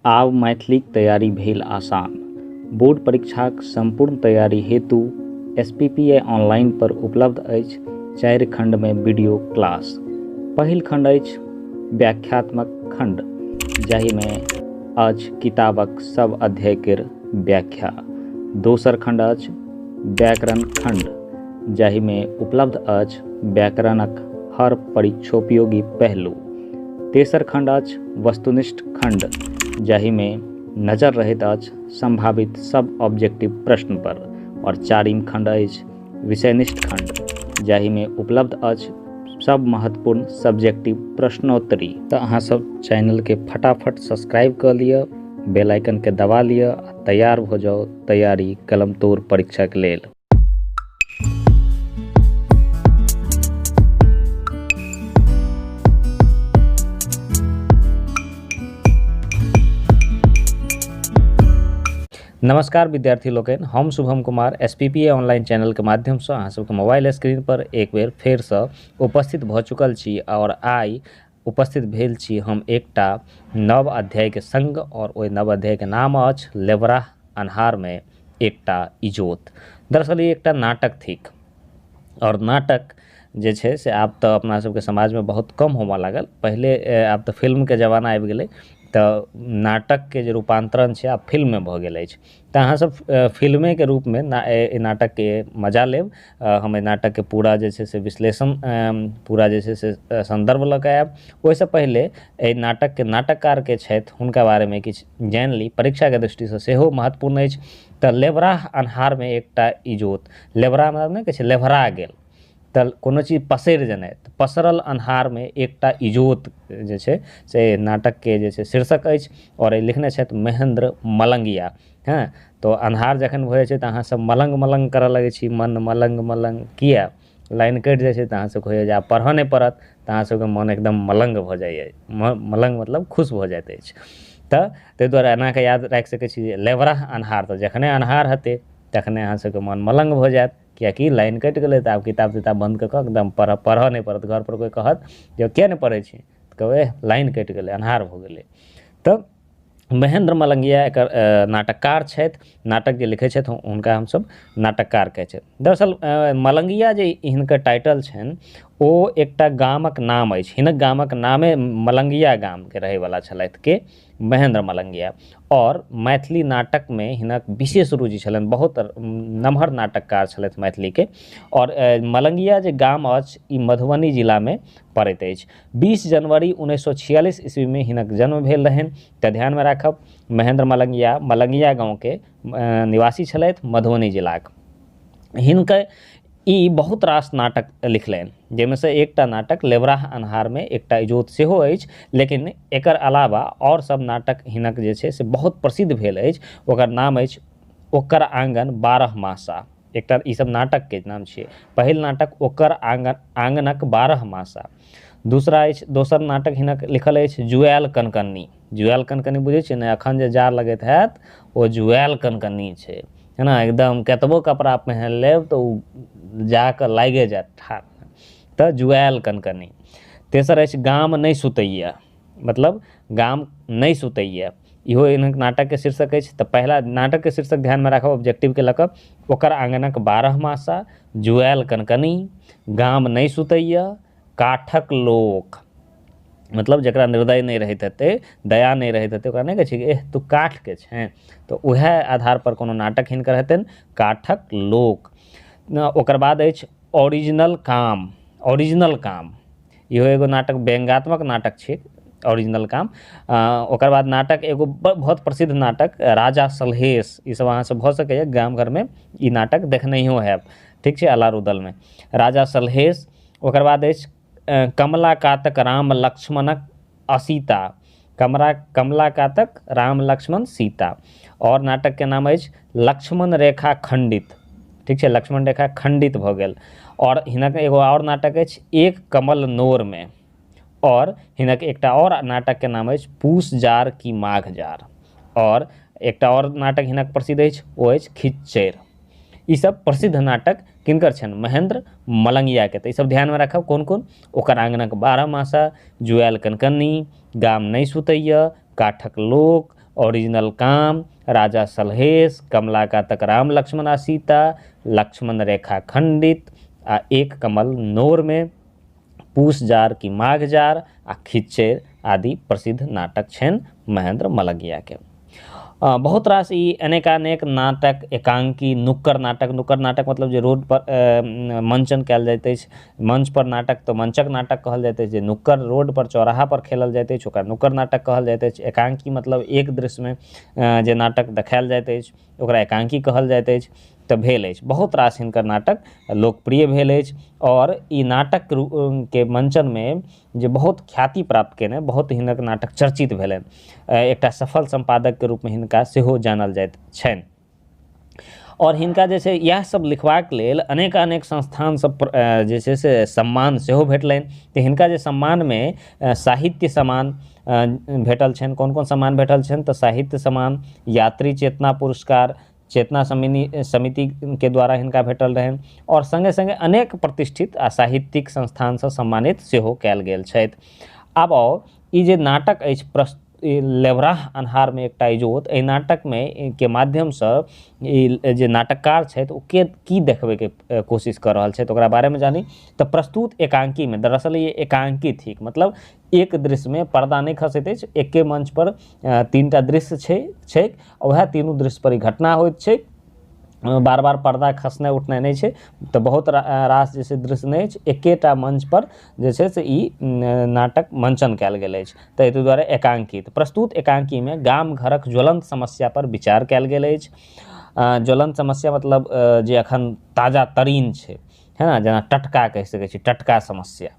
आब मैथिलीक तैयारी भेल आसान। बोर्ड परीक्षाक संपूर्ण तैयारी हेतु एसपीपीआई ऑनलाइन पर उपलब्ध अछि चारि खंड मे वीडियो क्लास। पहिल खंड अछि व्याख्यात्मक खंड जाहि मे अछि किताबक सब अध्याय केर व्याख्या। दोसर खंड अछि व्याकरण खंड जाहि मे उपलब्ध अछि व्याकरणक हर परीक्षोपयोगी पहलू। तेसर खण्ड अछि वस्तुनिष्ठ खण्ड जाहिमे नजर रहैत अछि सम्भावित सब ऑब्जेक्टिव प्रश्न पर और चारिम खण्ड अछि विषयनिष्ठ खण्ड जाहिमे उपलब्ध अछि सब महत्वपूर्ण सब्जेक्टिव प्रश्नोत्तरी तऽ अहाँ सब चैनल के फटाफट सब्सक्राइब कर लिअ बेल आइकन के दबा लिअ तैयार हो जाओ तैयारी कलम तोड़ परीक्षा के लेल नमस्कार विद्यार्थी लोकनि हम Shubham Kumar S P P A online चैनलके माध्यमसँ अहाँ सबके मोबाइल स्क्रीनपर एक बेर फेरसँ उपस्थित भऽ चुकल छी आओर आइ उपस्थित भेल छी हम एकटा नव अध्यायके सङ्ग आओर ओहि नव अध्यायके नाम अछि लेबराह अन्हारमे एकटा इजोत दरअसल ई एकटा नाटक थिक आओर नाटक जे छै से आब तऽ अपना सबके समाजमे बहुत कम होमऽ लागल पहिले आब तऽ फिल्मके जमाना आबि गेलै तऽ नाटकके जे रूपान्तरण छै आब फिल्ममे भऽ गेल अछि तऽ अहाँ सब फिल्मेके रूपमे अइ नाटकके मजा लेब हम अइ नाटकके पूरा जे छै से विश्लेषण पूरा जे छै से सन्दर्भ लऽ कऽ आयब ओइसँ पहिले अइ नाटकके नाटककार के छथि हुनका बारेमे किछु जानि ली परीक्षाके दृष्टिसँ सेहो महत्वपूर्ण अछि तऽ लेबराह अन्हारमे एकटा इजोत लेबराह मतलब नहि कहै छै लेबरा गेल तऽ कोनो चीज पसरि जेनाइ तऽ पसरल अन्हारमे एकटा इजोत जे छै से नाटकके जे छै शीर्षक अछि आओर लिखने छथि महेन्द्र मलंगिया हँ तऽ अन्हार जखन भऽ जाइ छै तऽ अहाँ सब मलङ्ग मलङ्ग करऽ लगै छी मन मलङ्ग मलङ्ग किया लाइन कटि जाइ छै तऽ अहाँ सबके होइए जे आब पढ़ऽ नहि पड़त तऽ अहाँ सबके मन एकदम मलङ्ग भऽ जाइए मलङ्ग मतलब खुश भऽ जाइत अछि तऽ तै दुआरे एना कऽ याद राखि सकै छी जे लेबरह अन्हार तऽ जखने अन्हार हेतै तखने अहाँ सबके मन मलङ्ग भऽ जायत किएकि लाइन कटि गेलै तऽ आब किताब तिताब बन्द कऽ कऽ एकदम पढ़ऽ पढ़ऽ नहि पड़त घरपर कोइ कहत जे किएक नहि पढ़ै छी तऽ कहबै एह लाइन कटि गेलै अन्हार भऽ गेलै तऽ महेन्द्र मलंगिया एकर नाटककार छथि नाटक जे लिखै छथि हुनका हमसब नाटककार कहै छियै दरअसल मलंगिया जे हिनकर टाइटल छनि ओ एकटा गामक नाम अछि हिनक गामक नामे मलंगिया गामके रहैवला छलथि के महेन्द्र मलंगिया आओर मैथिली नाटकमे हिनक विशेष रुचि छलनि बहुत नमहर नाटककार छलथि मैथिलीके आओर मलंगिया जे गाम अछि ई मधुबनी जिलामे पड़ैत अछि बीस जनवरी उन्नैस सए छियालिस ईस्वीमे हिनक जन्म भेल रहनि तऽ ध्यानमे राखब महेन्द्र मलंगिया मलंगिया गाँवके निवासी छलथि मधुबनी जिलाक हिनकर ई बहुत रास नाटक लिखलनि जाहिमे से एकटा नाटक लेबराह अन्हारमे एकटा इजोत सेहो अछि लेकिन एकर अलावा आओर सब नाटक हिनक जे छै से बहुत प्रसिद्ध भेल अछि ओकर नाम अछि ओकर आँगन बारह मासा एकटा ई सब नाटकके नाम छियै पहिल नाटक ओकर आँगन आँगनक बारह मासा दूसरा अछि दोसर नाटक हिनक लिखल अछि जुआएल कनकन्नी जुआयल कनकनी बुझै छियै ने एखन जे जाड़ लगैत हैत ओ जुआयल कनकनी छै है ने एकदम कतबो कपड़ा पहिन लेब तऽ ओ जाकऽ लागे जायत ठाढ़ तऽ जुआयल कनकनी तेसर अछि गाम नहि सुतैया मतलब गाम नहि सुतैया इहो एहन नाटकके शीर्षक अछि तऽ पहिला नाटकके शीर्षक ध्यानमे राखब ऑब्जेक्टिवके लऽ कऽ ओकर आँगनक बारह मासा जुआयल कनकनी गाम नहि सुतैया काठक लोक मतलब जकरा निर्दय नहि रहैत हेतै दया नहि रहैत हेतै ओकरा नहि कहै छै कि एह तू काठके छेँ तऽ वएह आधारपर कोनो नाटक हिनकर हेतनि काठक लोक ओकर बाद अछि ओरिजिनल काम ओरिजिनल काम इहो एगो नाटक व्यंगात्मक नाटक छै ओरिजिनल काम ओकर बाद नाटक एगो बहुत प्रसिद्ध नाटक राजा सलहेश ईसभ अहाँसभ भऽ सकैए गाम घरमे ई नाटक देखनैहो हैब ठीक छै अलार उदलमे राजा सलहेश ओकर बाद अछि कमला कातक राम लक्ष्मणक असीता कमरा कमला कातक राम लक्ष्मण सीता आओर नाटकके नाम अछि लक्ष्मण रेखा खण्डित ठीक छै लक्ष्मण रेखा खण्डित भऽ गेल आओर हिनक एगो आओर नाटक अछि एक कमल नोरमे आओर हिनक एकटा आओर नाटकके नाम अछि पूस जार की माघ जार आओर एकटा आओर नाटक हिनक प्रसिद्ध अछि ओ अछि खिच्चैर ई सब प्रसिद्ध नाटक किनकर छनि महेन्द्र मलंगिया के तऽ ई सब ध्यान मे राखब कोन कोन ओकर आंगन के बारह मासा जुआयल कनकनी गाम नहि सुतैया काठक लोक ओरिजिनल काम राजा सलहेश कमला का तक राम लक्ष्मण आ सीता लक्ष्मण रेखा खंडित आ एक कमल नोर मे पूस जाड़ कि माघ जाड़ आ खिच्चैर आदि प्रसिद्ध नाटक छनि महेन्द्र मलगियाके। बहुत रास ई अनेकानेक नाटक, एकांकी, नुक्कड़ नाटक, नुक्कड़ नाटक मतलब जे रोड पर मंचन कयल जाइत अछि, मंच पर नाटक तऽ मंचक नाटक कहल जाइत अछि जे नुक्कड़ रोड पर चौराहा पर खेलल जाइत अछि ओकरा नुक्कड़ नाटक कहल जाइत अछि। एकांकी मतलब एक दृश्यमे जे नाटक देखायल जाइत अछि। ओकरा एकांकी कहल जाइत अछि तऽ भेल अछि बहुत रास हिनकर नाटक लोकप्रिय भेल अछि आओर ई नाटक के मंचन मे जे बहुत ख्याति प्राप्त केने बहुत हिनक नाटक चर्चित भेलनि एकटा सफल सम्पादक के रूप मे हिनका सेहो जानल जाइत छनि आओर हिनका जे छै इएह सब लिखबाक लेल अनेक अनेक संस्थान सब जे छै से सम्मान सेहो भेटलनि तऽ हिनका जे सम्मान मे साहित्य सम्मान भेटल छनि कोन कोन सम्मान भेटल छनि तऽ साहित्य सम्मान यात्री चेतना पुरस्कार चेतना समिनी समितिके द्वारा हिनका भेटल रहनि आओर सङ्गे सङ्गे अनेक प्रतिष्ठित आ साहित्यिक संस्थानसँ सम्मानित सेहो कयल गेल छथि आब आउ ई जे नाटक अछि प्रस ई लेवराह अन्हारमे एकटा इजोत एहि नाटकमे ई के माध्यमसँ ई जे नाटककार छथि ओ के की देखबैके अ, कोशिश कऽ रहल छथि ओकरा बारेमे जानी तऽ प्रस्तुत एकांकीमे दरअसल ये एकांकी थिक मतलब एक दृश्यमे पर्दा नहि खसैत अछि एके मंच पर तीन टा दृश्य छै छैक वएह तीनू दृश्य पर ई घटना होइत छैक बार बार पर्दा खसनाइ उठनाइ नहि छै तऽ बहुत रास जे छै दृश्य नहि अछि एकेटा मंच पर जे छै से ई नाटक मंचन कयल गेल अछि ताहि दुआरे एकांकित प्रस्तुत एकांकीमे गाम घरक ज्वलंत समस्या पर विचार कयल गेल अछि ज्वलंत समस्या मतलब जे अखन ताजा तरीन छै है ने जेना टटका कहि सकै छी टटका समस्या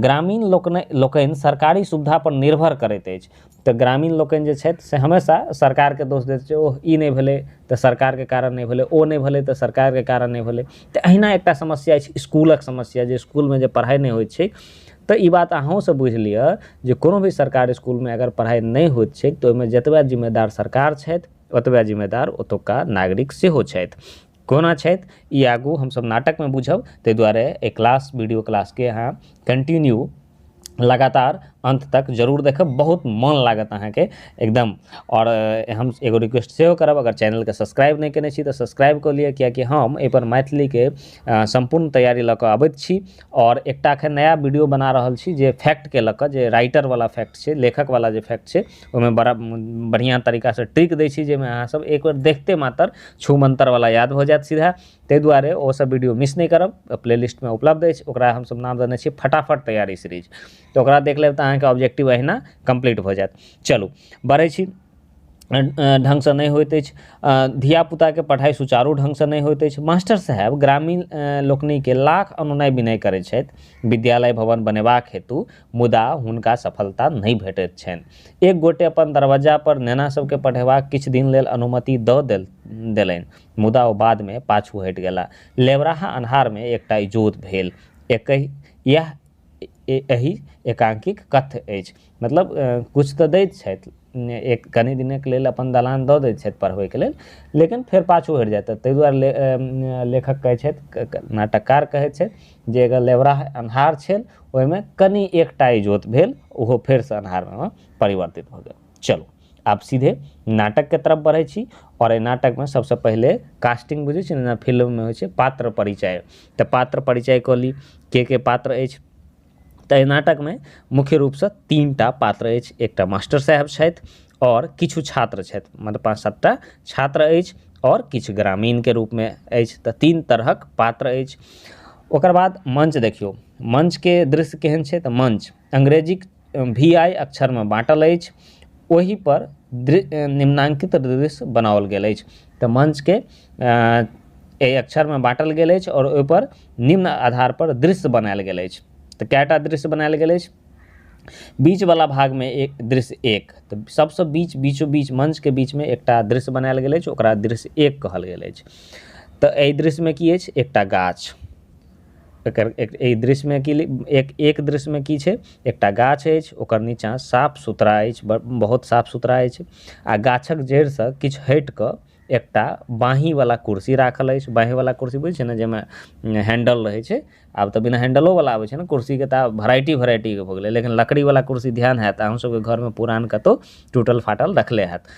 ग्रामीण लोकनि लोकनि सरकारी सुविधा पर निर्भर करैत अछि तऽ ग्रामीण लोकनि जे छथि से हमेशा सरकारके दोष दैत छै ओह ई नहि भेलै तऽ सरकारके कारण नहि भेलै ओ नहि भेलै तऽ सरकारके कारण नहि भेलै तऽ अहिना एकटा समस्या अछि इसकुलक समस्या जे इसकुलमे जे पढ़ाइ नहि होइत छै तऽ ई बात अहूँ सब बुझि लिअ जे कोनो भी सरकारी इसकुलमे अगर पढ़ाइ नहि होइत छै तऽ ओहिमे जतबा जिम्मेदार सरकार छथि ओतबा जिम्मेदार ओतुका नागरिक सेहो छथि कोना छथि ई आगू हमसभ नाटकमे बुझब ताहि दुआरे एहि क्लास वीडियो क्लासके अहाँ कंटिन्यू लगातार अन्त तक जरूर देखब बहुत मन लागत अहाँके एकदम आओर अ, हम एगो रिक्वेस्ट सेहो करब अगर चैनलके सब्सक्राइब नहि केने छी तऽ सब्सक्राइब कऽ लिअ कियाकि हम एहिपर मैथिलीके अ, सम्पूर्ण तैयारी लऽ कऽ अबैत छी आओर एकटा एखन नया वीडियो बना रहल छी जे फैक्टके लऽ कऽ जे राइटरवला फैक्ट छै लेखकवला जे फैक्ट छै ओहिमे बड़ा बढ़िआँ तरीकासँ ट्रिक दै छी जाहिमे अहाँसभ एक बेर देखते मात्र छू मन्तरवला याद भऽ जायत सीधा ताहि दुआरे ओ सब वीडियो मिस नहि करब प्ले लिस्टमे उपलब्ध अछि ओकरा हमसब नाम देने छी फटाफट तैयारी सीरीज तऽ ओकरा देख लेब तऽ अहाँके ऑब्जेक्टिव अहिना कम्प्लीट भऽ जायत चलू बढ़ै छी ढङ्गसँ नहि होइत अछि धियापुताके पढ़ाइ सुचारू ढङ्गसँ नहि होइत अछि मास्टर साहेब ग्रामीण लोकनिके लाख अनुनय विनय करै छथि विद्यालय भवन बनेबाक हेतु मुदा हुनका सफलता नहि भेटैत छैन। एक गोटे अपन दरवज्जा पर नेना सभकेँ पढ़ेबाक किछु दिन लेल अनुमति दऽ देलैन। मुदा ओ बाद मे पाछू हटि गेलाह। लेवराहा अन्हार मे एकटा इजोत भेल। एकहि यैह एहि एकांकीक कथ्य अछि। मतलब किछु तँ दैत छथि। एक कनी दिनक लेल अपन दलान दऽ दैत छथि पढ़बैक लेल। लेकिन फेर पाछू हटि जाइत छथि। तै दुआरे लेखक कहैत छथि, नाटककार कहैत छथि। जे अगर लेबराह अन्हार छल ओहिमे कनि एकटा इजोत भेल ओहो फेरसँ अन्हारमे परिवर्तित भऽ गेल चलू आब सीधे नाटकके तरफ बढ़ै छी आओर एहि नाटकमे सबसँ पहिले कास्टिंग बुझै छी ने फिल्ममे होइ छै पात्र परिचय तऽ पात्र परिचय कऽ ली के के पात्र अछि तऽ एहि नाटकमे मुख्य रूपसँ तीन टा पात्र अछि एकटा मास्टर साहेब छथि आओर किछु छात्र छथि मतलब पाँच सात टा छात्र अछि आओर किछु ग्रामीणके रूपमे अछि तऽ तीन तरहक पात्र अछि ओकर बाद मञ्च देखियौ मञ्चके दृश्य केहन छै तऽ मञ्च अंग्रेजीक भी आइ अक्षरमे बाँटल अछि ओहि पर दृ निम्नांकित दृश्य बनाओल गेल अछि तऽ मञ्चके एहि अक्षरमे बाँटल गेल अछि आओर ओहिपर निम्न आधारपर दृश्य बनायल गेल अछि तऽ कए टा दृश्य बनायल गेल अछि बीचवला भागमे एक दृश्य एक तऽ सबसँ बीच बीचो बीच मञ्चके बीचमे एकटा दृश्य बनायल गेल अछि ओकरा दृश्य एक कहल गेल अछि तऽ अइ दृश्यमे की अछि एकटा गाछ एकर अइ दृश्यमे की एक एक दृश्यमे की छै एकटा गाछ अछि ओकर नीचा साफ सुथरा अछि बहुत साफ सुथरा अछि आओर गाछक जड़िसँ किछु हटि कऽ एकटा बाँहि बला कुर्सी राखल अछि बाँहि बला कुर्सी बुझै छियै ने जाहिमे हैंडल रहै छै आब तऽ बिना हैंडलो बला आबै छै ने कुर्सी के तऽ आब भेराइटी भेराइटी के भऽ गेलै लेकिन लकड़ी बला कुर्सी ध्यान होयत अहूँ सबके घर मे पुरान कतौ टूटल फाटल देखले होयत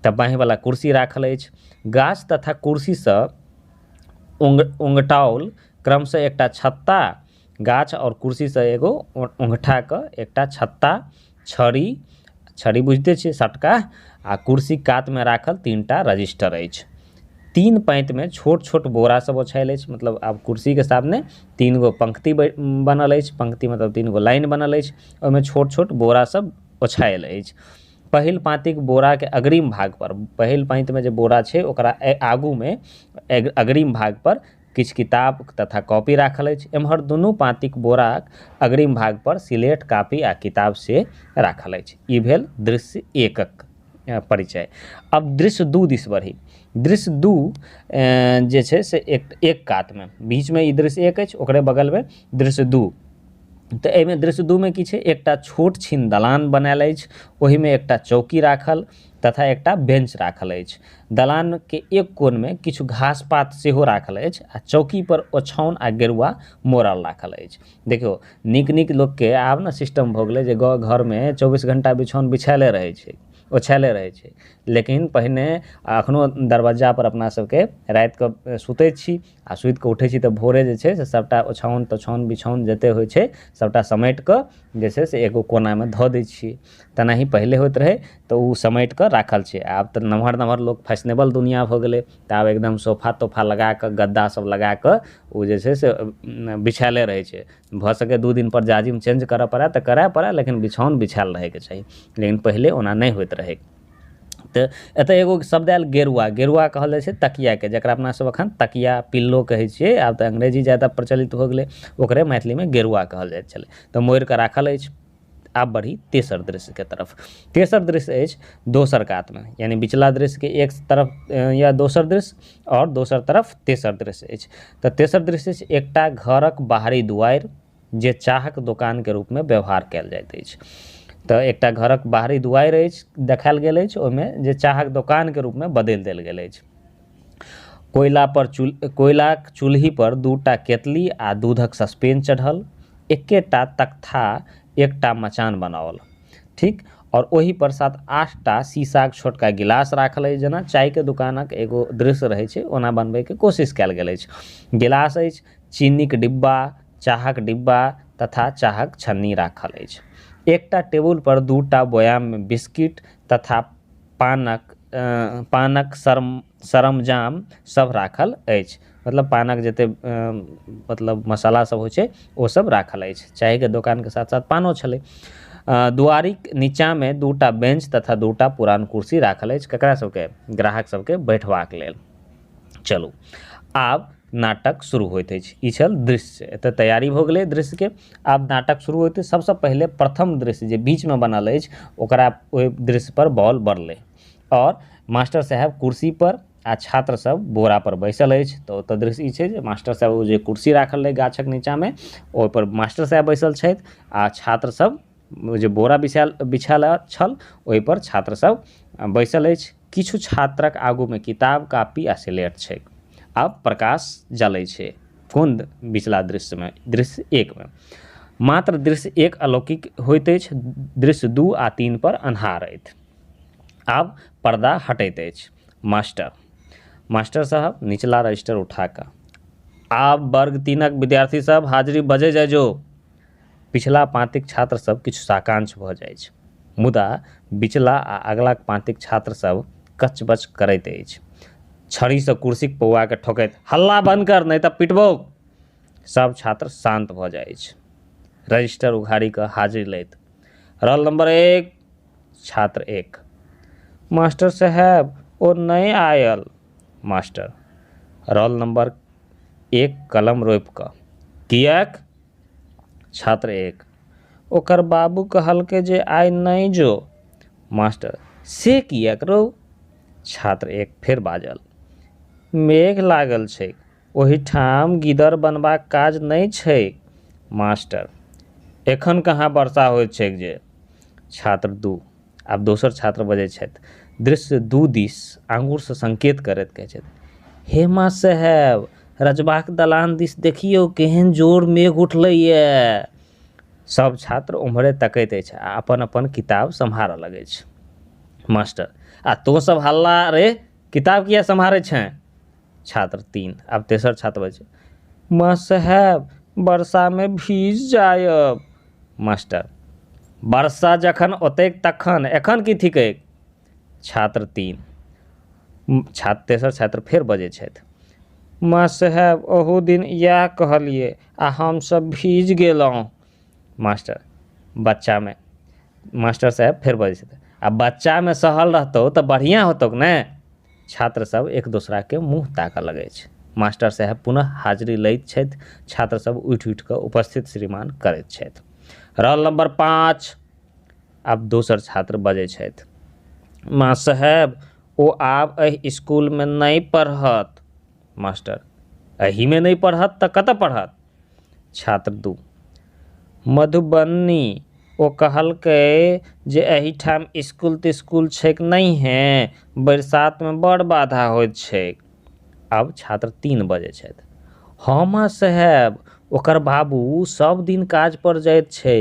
तऽ बाँहि बला कुर्सी राखल अछि गाछ तथा कुर्सी सऽ ओंग ओंगटाओल क्रम सऽ एकटा छत्ता गाछ आओर कुर्सी सऽ एगो ओंगठा के एकटा छत्ता छड़ी छड़ी बुझिते छियै सटका आ कुर्सी कात मे राखल तीन टा रजिस्टर अछि तीन पैंत मे छोट छोट बोरा सब ओछायल अछि मतलब आब कुर्सी के सामने तीन गो पंक्ति बनल अछि पंक्ति मतलब तीन गो लाइन बनल अछि ओहिमे छोट छोट बोरा सब ओछायल अछि पहिल पाँतिक बोरा के अग्रिम भाग पर पहिल पाँति मे जे बोरा छै ओकरा आगू मे अग्रिम भाग पर किछु किताब तथा कॉपी राखल अछि। एम्हर दुनू पाँतिक बोराक अग्रिम भाग पर सिलेट, कापी आ किताब से राखल अछि। ई भेल दृश्य एकक परिचय। आब दृश्य दू दिस बढ़ी। दृश्य दू जे छै से एक कात मे। बीच मे ई दृश्य एक अछि ओकरे बगल मे दृश्य दू। तऽ एहिमे दृश्य दू मे की छै एकटा छोट छीन दलान बनाएल अछि। ओहिमे एकटा चौकी राखल। तथा एकटा बेंच राखल अछि। दलान के एक कोन मे किछु घास-पात सेहो राखल अछि आ चौकी पर ओछौन आ गेरुआ मोड़ल राखल अछि। देखियो, नीक-नीक लोक के आब ने सिस्टम भऽ गेलै जे घर मे चौबीस घंटा बिछौन बिछायले रहै छै, ओछायले रहै छै। लेकिन पहिने आ अखनो दरबज्जा पर अपना सबके राति कऽ सुतै छी आ सुति कऽ उठै छी तऽ भोरे जे छै से सबटा ओछौन तोछौन बिछौन जते होइ छै सबटा समेट कऽ जे छै से एगो कोना मे धऽ दै छियै तेनाही पहिले होइत रहै तऽ ओ समेट कऽ राखल छै आब तऽ नमहर नमहर लोक फैशनेबल दुनिया भऽ गेलै तऽ आब एकदम सोफा तोफा लगा कऽ गद्दा सब लगा कऽ ओ जे छै से बिछायले रहै छै भऽ सकैया दू दिन पर जाजिम चेंज करऽ पड़ए तऽ करए पड़ए लेकिन बिछौन बिछायल रहै के चाही लेकिन पहिले ओना नहि होइत रहै तऽ एतऽ एगो शब्द आयल गेरुआ गेरुआ कहल जाइ छै तकियाके जकरा अपना सब एखन तकिया पिल्लो कहै छियै आब तऽ अंग्रेजी जादा प्रचलित हो गेलै ओकरे मैथिलीमे गेरुआ कहल जाइ छलै तऽ मोड़िकऽ राखल अछि आब बढ़ी तेसर दृश्यके तरफ तेसर दृश्य अछि दोसर कातमे यानि बिचला दृश्यके एक तरफ या दोसर दृश्य आओर दोसर तरफ तेसर दृश्य अछि तऽ तेसर दृश्य अछि एकटा घरक बाहरी दुआरि जे चाहक दोकान के रूप मे व्यवहार कयल जाइत अछि तऽ एकटा घरक बाहरी दुआरि अछि देखायल गेल अछि ओहिमे जे चाहक दोकान के रूप मे बदलि देल गेल अछि कोयला पर कोयलाक चूल्हि पर दूटा केतली आ दूधक सस्पेन चढ़ल एकेटा तख्ता एकटा मचान बनाओल ठीक आओर ओहि पर सात आठ टा शीशा के छोटका गिलास राखल अछि जेना चाय के दोकानक एगो दृश्य रहै छै ओना बनबै के कोशिश कयल गेल अछि गिलास अछि चीनीक डिब्बा, चाहक डिब्बा तथा चाहक छन्नी राखल अछि। एकटा टेबुल पर दू टा बोयाम मे बिस्किट तथा पानक पानक सरमजाम सभ राखल अछि। मतलब पानक जते मतलब मसाला सभ होइ छै ओ सभ राखल अछि। चाय के दोकान के साथ-साथ पानो छलै। दुआरिक नीचा मे दू टा बेंच तथा दू टा पुरान कुर्सी राखल अछि। ककरा सभ के? ग्राहक सभ के बैठबाक लेल। चलू आब नाटक शुरू होइत अछि ई छल दृश्य एतऽ तैयारी भऽ गेलै दृश्यके आब नाटक शुरू होइत अछि सबसँ पहिले प्रथम दृश्य जे बीचमे बनल अछि ओकरा ओहि दृश्यपर बॉल बढ़लै आओर मास्टर साहेब कुर्सीपर आ छात्र सब बोरा पर बैसल अछि तऽ ओतऽ दृश्य ई छै जे मास्टर साहेब ओ जे कुर्सी राखल रहै गाछक नीचाँमे ओहिपर मास्टर साहेब बैसल छथि आ छात्र सब ओ जे बोरा बिछायल बिछायल छल ओहिपर छात्र सब बैसल अछि किछु छात्रक आगूमे किताब कापी आ सिलेट छैक आ प्रकाश जलै छै कोन बिचला दृश्यमे दृश्य एकमे मात्र दृश्य एक अलौकिक होइत अछि दृश्य दू आ तीन पर अन्हार अछि आब पर्दा हटैत अछि मास्टर मास्टर साहब निचला रजिस्टर उठा कऽ आब वर्ग तीनक विद्यार्थी सब हाजिरी बजै जाइ जो पिछला पाँतिक छात्र सभ किछु साकांक्ष भऽ जाइछ। मुदा बिचला आ अगलाक पाँतिक छात्र सभ कच-बच करैत अछि। छड़ीसँ कुर्सीक पौआकेँ ठोकैत, हल्ला बन्न कर, नहि तँ पिटबौक! सभ छात्र शान्त भऽ जाइछ। रजिस्टर उघारि कऽ हाजिरी लैत, रौल नम्बर एक! छात्र एक, मास्टर साहेब, ओ नहि आयल। मास्टर, रौल नम्बर एक कलम रोपि कऽ, किएक? छात्र 1 ओकर बाबू कहलकै जे आइ नहि जो मास्टर से किएक रौ छात्र 1 फेर बाजल मेघ लागल छैक ओहिठाम गिदर बनबाक काज नहि छैक मास्टर एखन कहाँ वर्षा होइत छैक जे छात्र 2 आब दोसर छात्र बजै छथि दृश्य दू दिस आँगुर सऽ संकेत करैत कहै छथि हे माँ साहेब रजबाक दलान दिस देखियौ केहेन जोर मेघ उठलैया सब छात्र ओम्हरे तकैत अछि आ अपन अपन किताब सम्हारऽ लगै छै मास्टर आ तों सब हल्ला रे किताब किए सम्हारै छें छात्र तीन आब तेसर छात्र बजै छै माँ साहेब बरसामे भीज जायब मास्टर बरसा जखन ओतैक तखन एखन की थिकैक छात्र तीन छात्र तेसर छात्र फेर बजै छथि माँ साहेब ओहू दिन इएह कहलियै आ हमसभ भीज गेलहुँ मास्टर बच्चामे मास्टर साहेब फेर बजै छथि आ बच्चामे सहल रहतौ तऽ बढ़िआँ होतौक ने छात्र सभ एक दोसराकेँ मुँह ताकऽ लगैत अछि। मास्टर साहेब पुनः हाजिरी लैत छथि। छात्र सभ उठि-उठि कऽ उपस्थित श्रीमान करैत छथि। रॉल नम्बर पाँच। आब दोसर छात्र बजैत छथि। मास्टर साहेब, ओ आब एहि स्कूलमे नहि पढ़त। मास्टर एहिमे नहि पढ़त तऽ कतऽ पढ़त छात्र दू मधुबनी ओ कहलकै जे एहिठाम इसकुल तिस्कुल छैक नहिये बरसातमे बड़ बाधा होइत छैक आब छात्र तीन बजै छथि हँ मास्टर साहेब ओकर बाबू सब दिन काज पर जाइत छै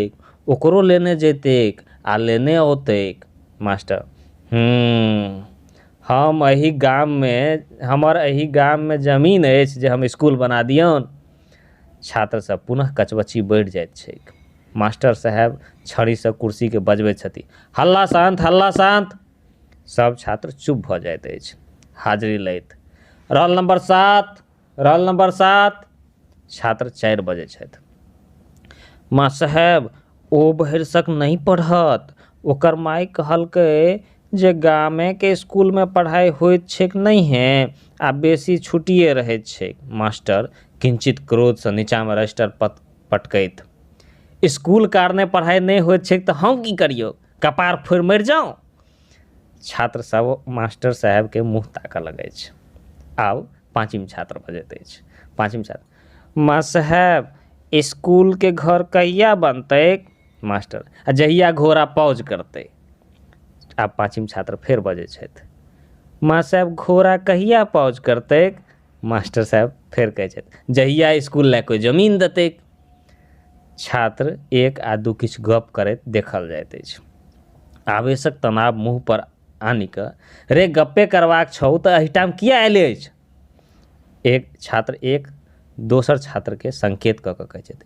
ओकरो लेने जैतैक आ लेने औतैक मास्टर हूँ हम एहि गाममे हमर एहि गाममे जमीन अछि जे हम इसकुल बना दिऔन छात्र सब पुनः कचबच्ची बढ़ि जाइत छैक मास्टर साहेब छड़ीसँ कुर्सीके बजबैत छथि हल्ला शान्त हल्ला शान्त सब छात्र चुप भऽ जाइत अछि हाजरी लैत रोल नम्बर सात रहल नम्बर सात छात्र चारि बजै छथि माँ साहेब ओ भरिसक नहि पढ़त ओकर माय कहलकै जे गामे के इसकुल मे पढ़ाइ होइत छैक नहिये आ बेसी छुट्टिये रहैत छैक मास्टर किंचित क्रोध सँ नीचा मे रजिस्टर पत पटकैत इसकुल कारणे पढ़ाइ नहि होइत छैक तऽ हम की करियौ कपार फोड़ि मरि जाउ छात्र सब मास्टर साहेब के मुँह ताकऽ लगै छै आब पाँचम छात्र भऽ जाइत अछि पाँचम छात्र मास्टर साहेब इसकुलके घर कहिआ बनतै मास्टर आ जहिआ घोड़ा पाउज करतै आब पाँचम छात्र फेर बजैत छथि मास्टर साहेब घोड़ा कहिआ पाउज करतै मास्टर साहेब फेर कहैत छथि जहिआ इसकुल लऽ कोइ जमीन देतै छात्र एक आ दू किछु गप करैत देखल जाइत अछि आवेशक तनाव मुँह पर आनि कऽ रे गप्पे करबाक छौ तऽ एहिठाम किया एले अछि एक छात्र एक दोसर छात्रके संकेत कऽ कऽ कहै छथि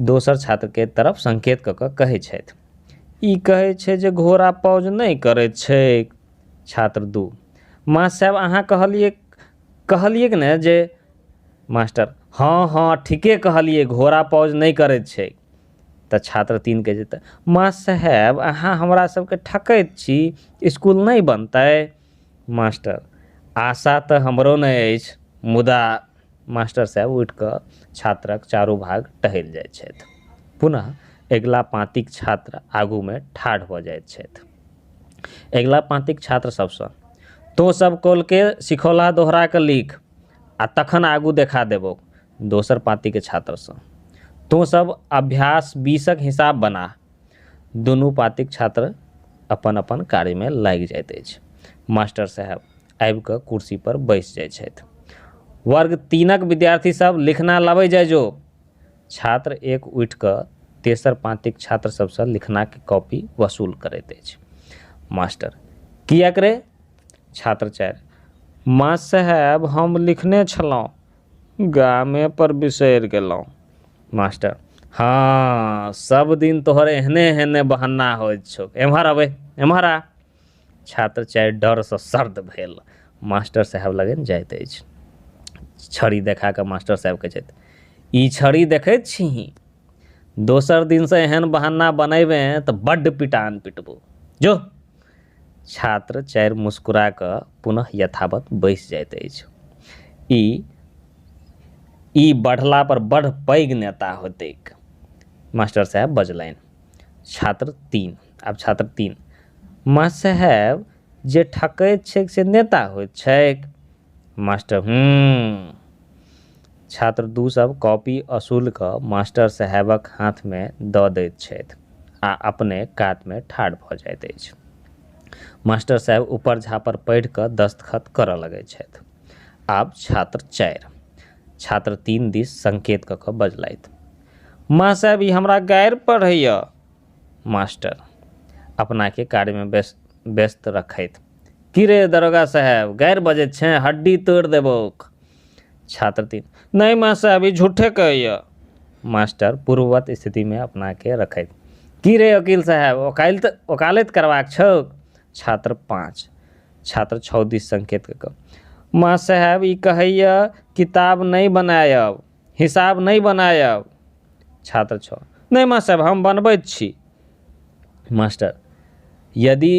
दोसर छात्रके तरफ संकेत कऽ कऽ कहै छथि ई कहै छै जे घोड़ा पौज नहि करैत छै छात्र दू माँ साहेब अहाँ कहलियै कहलियैक ने जे मास्टर हँ हँ ठीके कहलियै घोड़ा पौज नहि करैत छै तऽ छात्र तीन कहै छै तऽ मास्टर साहेब अहाँ हमरा सबके ठकैत छी इसकुल नहि बनतै मास्टर आशा तऽ हमरो नहि अछि मुदा मास्टर साहेब उठि कऽ छात्रक चारू भाग टहलि जाइ छथि पुनः अगिला पाँतिक छात्र आगूमे ठाढ़ भऽ जाइ छथि अगिला पाँतिक छात्र सबसँ तोँ सब कौलके सिखौला दोहराकऽ लिख आ तखन आगू देखा देबौ दोसर पाँतिके छात्रसँ तोँ सब अभ्यास बीसक हिसाब बना दुनू पाँतिक छात्र अपन अपन कार्यमे लागि जाइत अछि मास्टर साहेब आबि कऽ कुर्सी पर बैस जाइ छथि वर्ग तीनक विद्यार्थी सब लिखना लबै जाइ जो छात्र एक उठि कऽ तेसर पाँतिक छात्र सभसँ लिखनाक कॉपी वसूल करैत अछि। मास्टर, किएक रे? छात्र चारि, मास साहेब हम लिखने छलहुँ, गामे पर बिसरि गेलहुँ। मास्टर, हँ, सभ दिन तोहर एहने-एहने बहन्ना होइत छौक। एम्हर अबै, एम्हर आ। छात्र चाहे डरसँ सर्द भेल मास्टर साहेब लगन जाइत अछि छड़ी देखा कऽ मास्टर साहेब कहै छथि ई छड़ी देखैत छीही दोसर दिनसँ एहन बहाना बनेबे तऽ बड्ड पिटान पिटबो जो छात्र चारि मुस्कुरा कऽ पुनः यथावत बैस जाइत अछि ई ई बढ़ला पर बड़ पैघ नेता होतैक मास्टर साहेब बजलनि छात्र तीन आब छात्र तीन माँ साहेब जे ठकैत छैक से नेता होइत छैक मास्टर हूँ छात्र दू सब कॉपी असूल कऽ मास्टर साहेबक हाथमे दऽ दैत छथि आ अपने कातमे ठाढ़ भऽ जाइत अछि मास्टर साहेब ऊपर झापर पढ़ि कऽ दस्तखत करऽ लगैत छथि आब छात्र चारि छात्र तीन दिस संकेत कऽ कऽ बजलथि माँ साहेब ई हमरा गारि पढ़ैया मास्टर, अपनाकेँ कार्यमे व्यस्त रखैत, की रे दरोगा साहेब, गारि बजैत छेँ? हड्डी तोड़ि देबौक। छात्र तीन, नहि महासाहेब, ई झूठे कहैए। मास्टर, पूर्ववत् स्थितिमे अपनाकेँ रखैत, की रे ओकील साहेब, ओकालति करबाक छौक? छात्र पाँच, छात्र छओ दिस संकेत कऽ कऽ, महासाहेब, ई कहैए किताब नहि बनाएब। हिसाब नहि बनायब छात्र छओ नहि मास्टर साहब हम बनबैत छी मास्टर यदि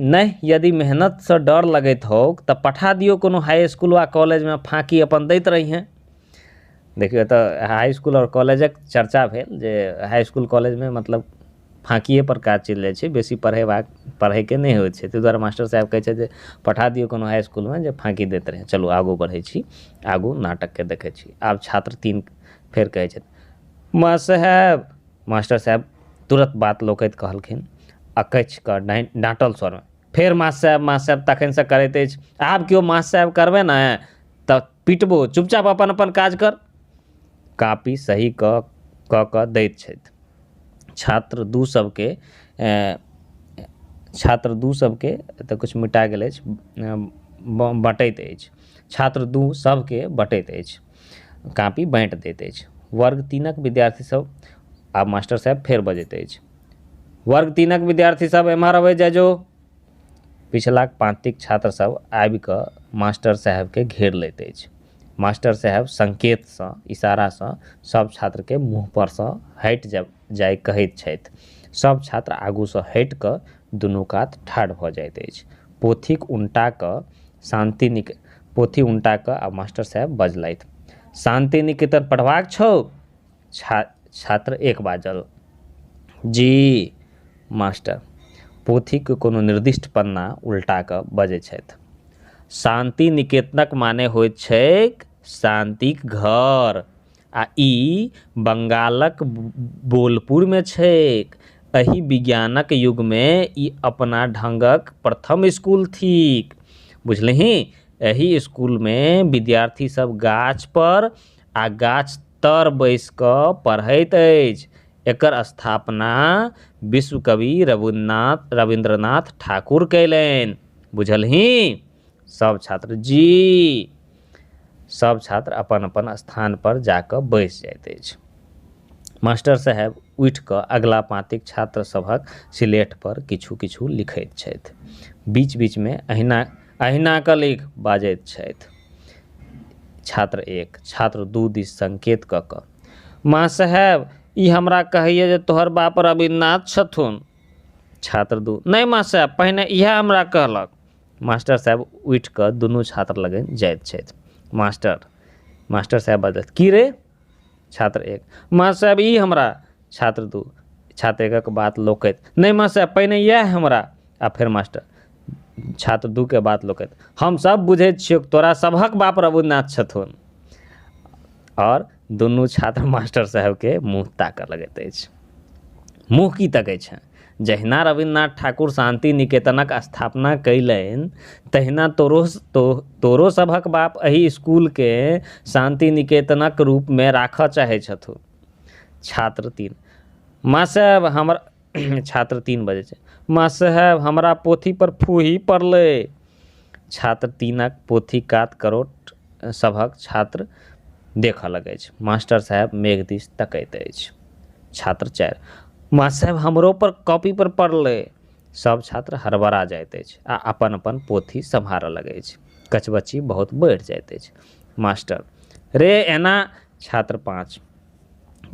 नहि यदि मेहनतसँ डर लगैत होउक तऽ पठा दियौ कोनो हाइ इसकुल वा कॉलेजमे फाँकी अपन दैत रहिहे देखियौ एतऽ हाइ इसकुल आओर कॉलेजक चर्चा भेल जे हाइ इसकुल कॉलेजमे मतलब फाँकिये पर काज चलि जाइ छै बेसी पढ़ेबाक पढ़ै के नहि होइ छै ताहि दुआरे मास्टर साहेब कहै छथि जे पठा दियौ कोनो हाइ इसकुल मे जे फाँकी दैत रहै चलू आगू बढ़ै छी आगू नाटक के देखै छी आब छात्र तीन फेर कहै छथि मास्टर साहेब मास्टर साहेब तुरत बात लोकैत कहलखिन अकैछ कऽ डाँटि डाँटल स्वर मे फेर मास्टर साहेब मास्टर साहेब तखन सँ करैत अछि आब केओ मास्टर साहेब करबै ने तऽ पिटबो चुपचाप अपन अपन काज कर कापी सही कऽ कऽ कऽ दैत छथि छात्र दू सबके छात्र दू सबके एतऽ किछु मिटा गेल अछि बँटैत अछि छात्र दू सबके बँटैत अछि कापी बाँटि दैत अछि वर्ग तीनक विद्यार्थी सब आब मास्टर साहेब फेर बजैत अछि वर्ग तीनक विद्यार्थी सब एम्हर अबै जाइ जो पिछलाक पाँतिक छात्र सभ आबि कऽ मास्टर साहेबकेँ घेर लैत अछि। मास्टर साहेब संकेतसँ, इशारासँ, सभ छात्रकेँ मुँहपरसँ हटि जाए कहैत छथि। सभ छात्र आगूसँ हटि कऽ दुनू कात ठाढ़ भऽ जाइत अछि। पोथीक उनटा कऽ शान्ति निक पोथी उनटा कऽ आ मास्टर साहेब बजलथि, शान्तिनिकेतन पढ़बाक छौ? छा छात्र एक बाजल जी मास्टर पोथीके कोनो निर्दिष्ट पन्ना उल्टा कऽ बजै छथि शान्ति निकेतनक माने होइत छैक शान्तिक घर आ ई बंगालक बोलपुरमे छैक एहि विज्ञानक युगमे ई अपना ढंगक प्रथम स्कूल थिक बुझलही एहि स्कूलमे विद्यार्थी सब गाछ पर आ गाछ तर बैस कऽ पढ़ैत अछि। एकर स्थापना विश्व कवि रविन्द्रनाथ रविन्द्रनाथ ठाकुर कयलनि। बुझलहीं? सभ छात्र जी। सभ छात्र अपन-अपन स्थान पर जा कऽ बैस जाइत अछि। मास्टर साहेब उठि कऽ अगिला पाँतिक छात्र सभक सिलेट पर किछु-किछु लिखैत छथि। बीच-बीच मे अहिना अहिना कऽ लिख बाजैत छथि। छात्र एक छात्र दू दिस संकेत कऽ कऽ माँ साहेब ई हमरा कहैया जे तोहर बाप रविन्द्रनाथ छथुन छात्र दू नहि माँ साहेब पहिने इएह हमरा कहलक मास्टर साहेब उठि कऽ दुनू छात्र लगन जाइत छथि मास्टर मास्टर साहेब बजलथि की रे छात्र एक मास्टर साहेब ई हमरा छात्र दू छात्र एकक बात लोकैत नहि मास्टर साहेब पहिने इएह हमरा आ फेर मास्टर छात्र दूके बात लोकैत हमसभ बुझैत छियौ तोरा सभक बाप रघुनाथ छथुन आओर दुनू छात्र मास्टर साहेबके मुँह ताकऽ लगैत अछि मुँह की तकै छै जहिना रवीन्द्रनाथ ठाकुर शान्ति निकेतनक स्थापना कयलनि तहिना तोरो तोरो सभक बाप एहि इसकुलके शान्ति निकेतनक रूपमे राखऽ चाहै छथु छात्र तीन माँ साहेब हमरा छात्र तीन बजै छै माँ साहेब हमरा पोथी पर फूही पड़लै छात्र तीनक पोथी कात करोट सभक छात्र देखऽ लगै अछि मास्टर साहेब मेघ दिस तकैत अछि छात्र चारि मास्टर साहेब हमरो पर कॉपी पर पड़लै सब छात्र हरबड़ा जाइत अछि आ अपन अपन पोथी सम्हारऽ लगै अछि कचबच्ची बहुत बढ़ि जाइत अछि मास्टर रे एना छात्र पाँच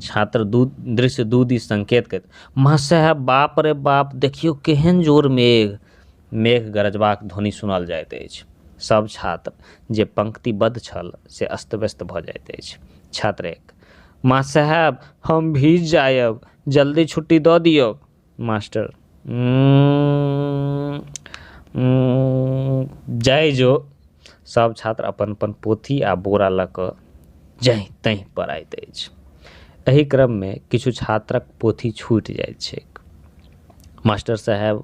छात्र दू दृश्य दू दिस संकेत करैत मास्टर साहेब बाप रे बाप देखियौ केहन जोर मेघ मेघ गरजबाक ध्वनि सुनल जाइत अछि। सब छात्र जे पंक्तिबद्ध छल से अस्तव्यस्त भऽ जाइत अछि। छात्र एक, माँ साहेब, हम भीज जायब। जल्दी छुट्टी दऽ दियौक। मास्टर उम्म, उम्म, जाइ जो। सब छात्र अपन-अपन पोथी आ बोरा लऽ कऽ जाँहि-ताँहि पड़ैत अछि। एहि क्रममे किछु छात्रक पोथी छूटि जाइत छैक। मास्टर साहेब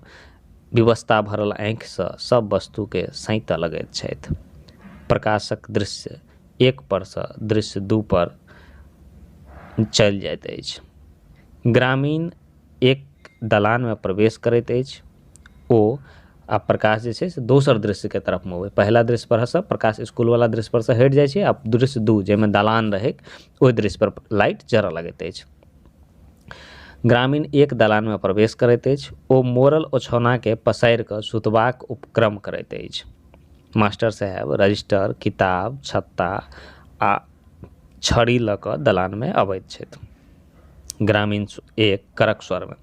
विवशता भरल आँखिसँ सब वस्तुके सैंतऽ लगैत छथि। प्रकाशक दृश्य एक परसँ दृश्य दू पर चलि जाइत अछि। ग्रामीण एक दलानमे प्रवेश करैत अछि ओ आ प्रकाश जे छै से दोसर दृश्यके तरफ मुँह होइत। पहिला दृश्य परसँ प्रकाश इसकुलवला दृश्य परसँ हटि जाइ छै आ दृश्य दू जाहिमे दलान रहैक ओहि दृश्य पर लाइट जरऽ लगैत अछि। ग्रामीण एक दलानमे प्रवेश करैत अछि ओ मोरल ओछौनाके पसारि कऽ सुतबाक उपक्रम करैत अछि मास्टर साहेब रजिस्टर किताब छत्ता आ छड़ी लऽ कऽ दलानमे अबैत छथि ग्रामीण एक कड़क स्वरमे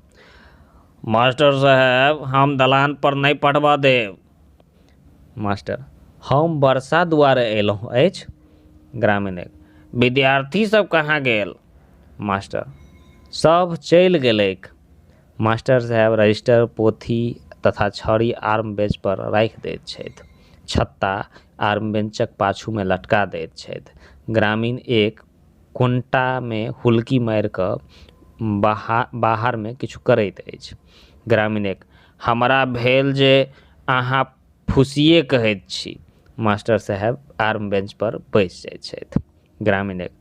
मास्टर साहेब हम दलान पर नहि पढ़बऽ देब मास्टर हम वर्षा दुआरे एलहुँ अछि ग्रामीण एक विद्यार्थी सब कहाँ गेल मास्टर सब चलि गेलैक मास्टर साहेब रजिस्टर पोथी तथा छड़ी आर्म बेंच पर राखि दैत छथि छत्ता आर्म बेंचक पाछूमे लटका दैत छथि ग्रामीण एक कोनटामे हुलकी मारि कऽ बाहा बाहरमे किछु करैत अछि ग्रामीण एक हमरा भेल जे अहाँ फुसिये कहैत छी मास्टर साहेब आर्म बेंच पर बैस जाइ छथि ग्रामीण एक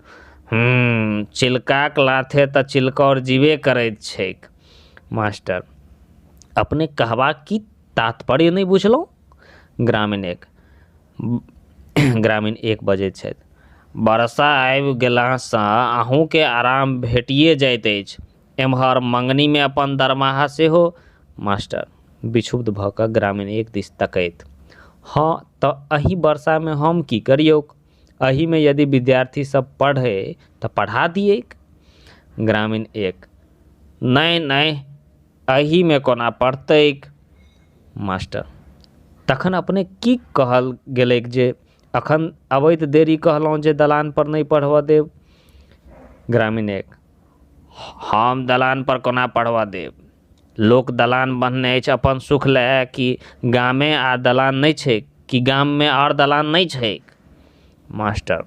हूँ चिलकाक लाथे तऽ चिलकौर जीबे करैत छैक मास्टर अपने कहबाक की तात्पर्य नहि बुझलहुॅं ग्रामीण एक ग्रामीण एक बजैत छथि बरसा आबि गेलासँ अहूँके आराम भेटिये जाइत अछि एम्हर मँगनीमे अपन दरमाहा सेहो मास्टर विक्षुब्ध भऽ कऽ ग्रामीण एक दिस तकैत हँ तऽ अहि बरसामे हम की करियौक अहिमे यदि विद्यार्थी सब पढ़ै तऽ पढ़ा दियैक ग्रामीण एक नहि नहि एहिमे कोना पड़तैक मास्टर तखन अपने की कहल गेलैक जे अखन अबैत देरी कहलहुॅं जे दलान पर नहि पढ़बऽ देब ग्रामीण एक हम दलान पर कोना पढ़बऽ देब लोक दलान बन्हने अछि अपन सुख लए कि गामे आ दलान नहि छैक कि गाममे आओर दलान नहि छैक मास्टर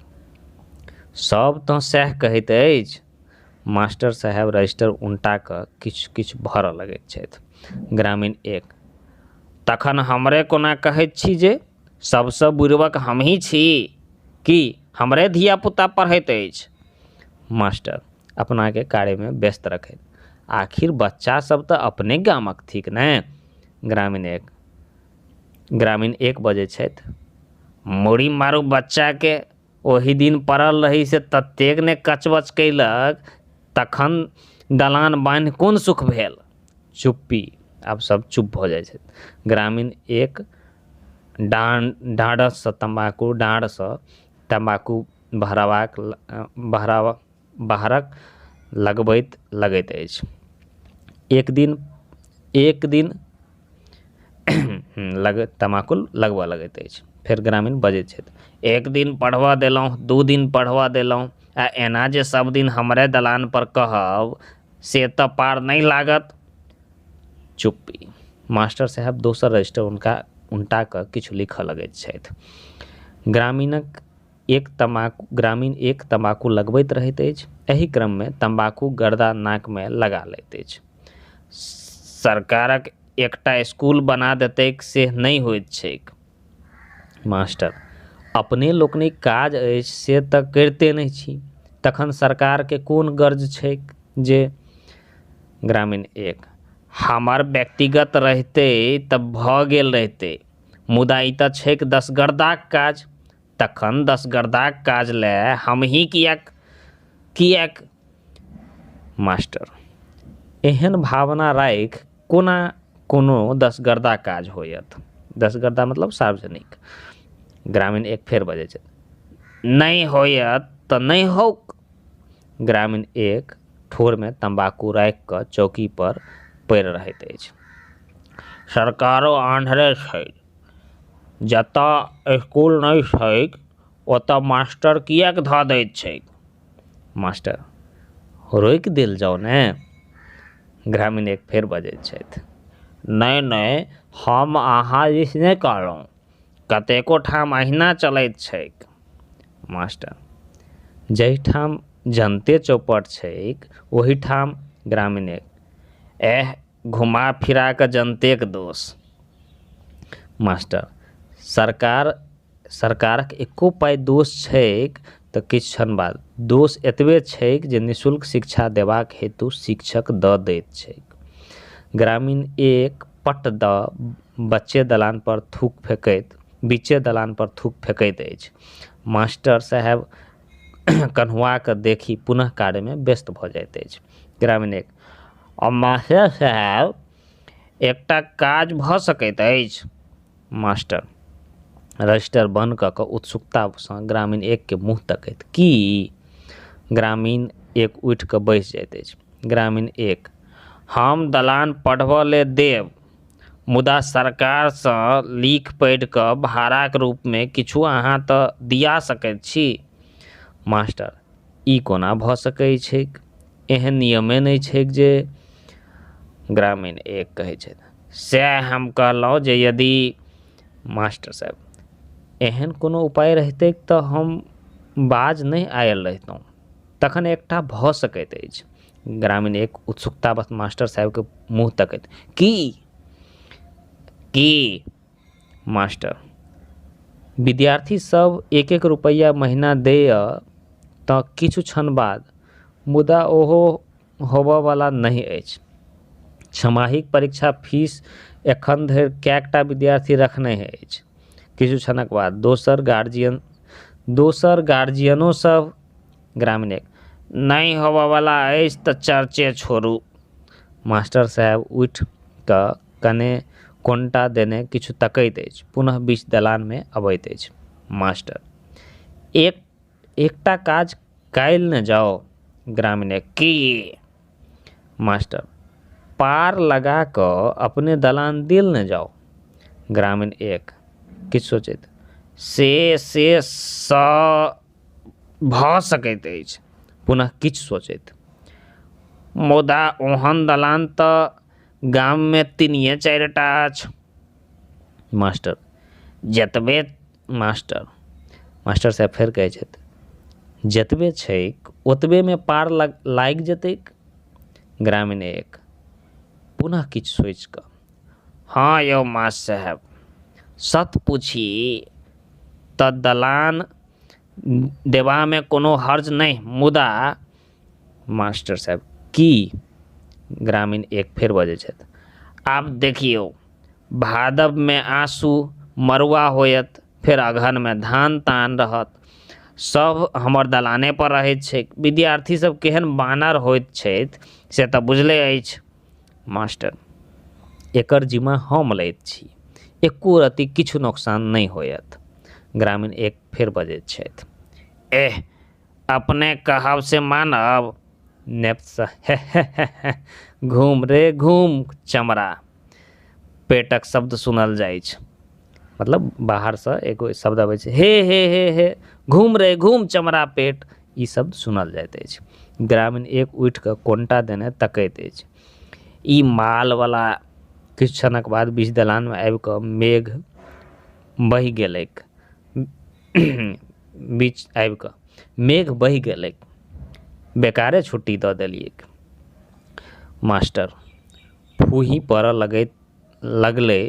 सब तऽ सएह कहैत अछि मास्टर साहेब रजिस्टर उनटा कऽ किछु किछु भरऽ लगैत छथि ग्रामीण एक तखन हमरे कोना कहैत छी जे सभसँ बुड़बक हमही छी कि हमरे धिया पुता पढ़ैत अछि मास्टर अपनाके कार्यमे व्यस्त रखैत आखिर बच्चा सभ तऽ अपने गामक थिक ने ग्रामीण एक ग्रामीण एक बजै छथि मुड़ी मारू बच्चाके ओहि दिन पड़ल रही से ततेक ने कचबच कयलक तखन दलान बान्हि कोन सुख भेल चुप्पी आब सब चुप भऽ जाइ छै ग्रामीण एक डान डाँडसँ तम्बाकू डाँड़सँ तम्बाकू भराबाक भराबक बाहरक लगबैत लगैत अछि एक दिन एक दिन लगैत तमाकुल लगबऽ लगैत अछि फेर ग्रामीण बजैत छथि एक दिन पढ़बऽ देलहुॅं दू दिन पढ़बऽ देलहुॅं आ एना जे सब दिन हमरे दलान पर कहब से तऽ पार नहि लागत चुप्पी मास्टर साहेब दोसर रजिस्टर हुनका उनटा कऽ किछु लिखऽ लगैत छथि ग्रामीणक एक तमाकू ग्रामीण एक तम्बाकू लगबैत रहैत अछि एहि क्रममे तम्बाकू गर्दा नाकमे लगा लैत अछि सरकारक एकटा इसकुल बना देतैक से नहि होइत छैक मास्टर अपने लोकनिक काज अछि से तऽ करिते नहि छी तखन सरकारके कोन गर्ज छैक जे ग्रामीण एक हमर व्यक्तिगत रहितै तऽ भऽ गेल रहितै मुदा ई तऽ छैक दसगर्दाक काज तखन दसगरदाक काज लए हमहीं किएक? किएक? मास्टर, एहेन भावना राखि कोना कोनो दसगरदा काज होयत? दसगरदा मतलब सार्वजनिक। ग्रामीण एक फेर बजै छथि। नहि होयत तँ नहि हौक। ग्रामीण एक ठोरमे तम्बाकू राखि कऽ चौकीपर पड़ि रहैत अछि। सरकारो आन्हरे छथि। जतय इस्कुल नहि छैक ओतय मास्टर किएक धऽ दैत छैक मास्टर रोकि देल जाउ ने ग्रामीण एक फेर बजैत छथि नहि नहि हम अहाँ दिस नहि कहलहुँ कतेको ठाम अहिना चलैत छैक मास्टर जाहि ठाम जनते चौपट छैक ओहि ठाम ग्रामीण एक एह घुमा फिरा कऽ जनतेक दोष मास्टर सरकार सरकारक एक्को पाइ दोष छैक तऽ किछु छन बाद दोष एतबे छैक जे निःशुल्क शिक्षा देबाक हेतु शिक्षक दऽ दैत छैक ग्रामीण एक पट दऽ बच्चे दलान पर थूक फेकैत बीचे दलान पर थूक फेकैत अछि मास्टर साहेब कन्हुआके देखि पुनः कार्यमे व्यस्त भऽ जाइत अछि ग्रामीण एक आओर मास्टर साहेब एकटा काज भऽ सकैत अछि मास्टर रजिस्टर बन्द कऽ कऽ उत्सुकतासँ ग्रामीण एकके मुँह तकैत की ग्रामीण एक उठि कऽ बैस जाइत अछि ग्रामीण एक हम दलान पढ़बऽ लए देब मुदा सरकार सँ लिख पढ़ि क भाड़ाक रूप मे किछु अहाँ त दिया सकैत छी। मास्टर, ई कोना भ सकैत छैक? एहेन नियमे नहि छैक जे। ग्रामीण एक कहैत छथि। सएह हम कहलहुँ जे यदि। मास्टर साहेब, एहेन कोनो उपाय रहितैक त हम बाज नहि आयल रहितहुँ। तखन एकटा भ सकैत अछि। ग्रामीण एक उत्सुकता बस मास्टर साहेबके मुँह तकैत की की मास्टर विद्यार्थी सब एक एक रुपैआ महिना दैया तऽ किछु क्षण बाद मुदा ओहो होबऽ बला नहि अछि छमाहीक परीक्षा फीस एखन धरि कएकटा विद्यार्थी रखने अछि किछु क्षणक बाद दोसर गार्जियन दोसर गार्जियनो सब ग्रामीण एक नहि होबऽ बला अछि तऽ चर्चे छोड़ू मास्टर साहेब उठि कऽ कने कोन्टा देने किछु तकैत अछि पुनः बीच दलानमे अबैत अछि मास्टर एक एकटा काज कयल ने जाउ ग्रामीण एक की मास्टर पार लगा कऽ अपने दलान देल ने जाउ ग्रामीण एक किछु सोचैत से से सँ भऽ सकैत अछि पुनः किछु सोचैत मुदा ओहन दलान तऽ गाममे तीनिये चारि टा अछि मास्टर जतबे मास्टर मास्टर साहेब फेर कहै छथि जतबे छैक ओतबेमे पार लागि जेतैक ग्रामीण एक पुनः किछु सोचि कऽ हँ यौ मास्टर साहेब सत पुछी तऽ दलान देबामे कोनो हर्ज नहि मुदा मास्टर साहेब की ग्रामीण एक फेर बजै छथि आब देखियौ भादबमे आँसू मरुआ होयत फेर अगहनमे धान तान रहत सब हमर दलाने पर रहैत छै विद्यार्थी सब केहन बानर होइत छथि से तऽ बुझले अछि मास्टर, एकर जिम्मा हम लैत छी। एक्को रत्ती किछु नोकसान नहि होयत। ग्रामीण एक फेर बजैत छथि। एह! अपने कहब से मानब? नेप्सह, हेहेहेहेह! घूम रे घूम, चमड़ा! पेटक शब्द सुनल जाइछ। मतलब बाहरसँ एगो शब्द अबै छै हे हे हे हे घूम रे घूम चमरा पेट ई शब्द सुनल जाइत अछि ग्रामीण एक उठिके कोन्टा देने तकैत अछि ई माल बला किछु क्षणक बाद बीच दलानमे आबिके मेघ बहि गेलैक बीच आबिके मेघ बहि गेलैक बेकारे छुट्टी दऽ देलियैक मास्टर फूही पड़ऽ लगैत लगलै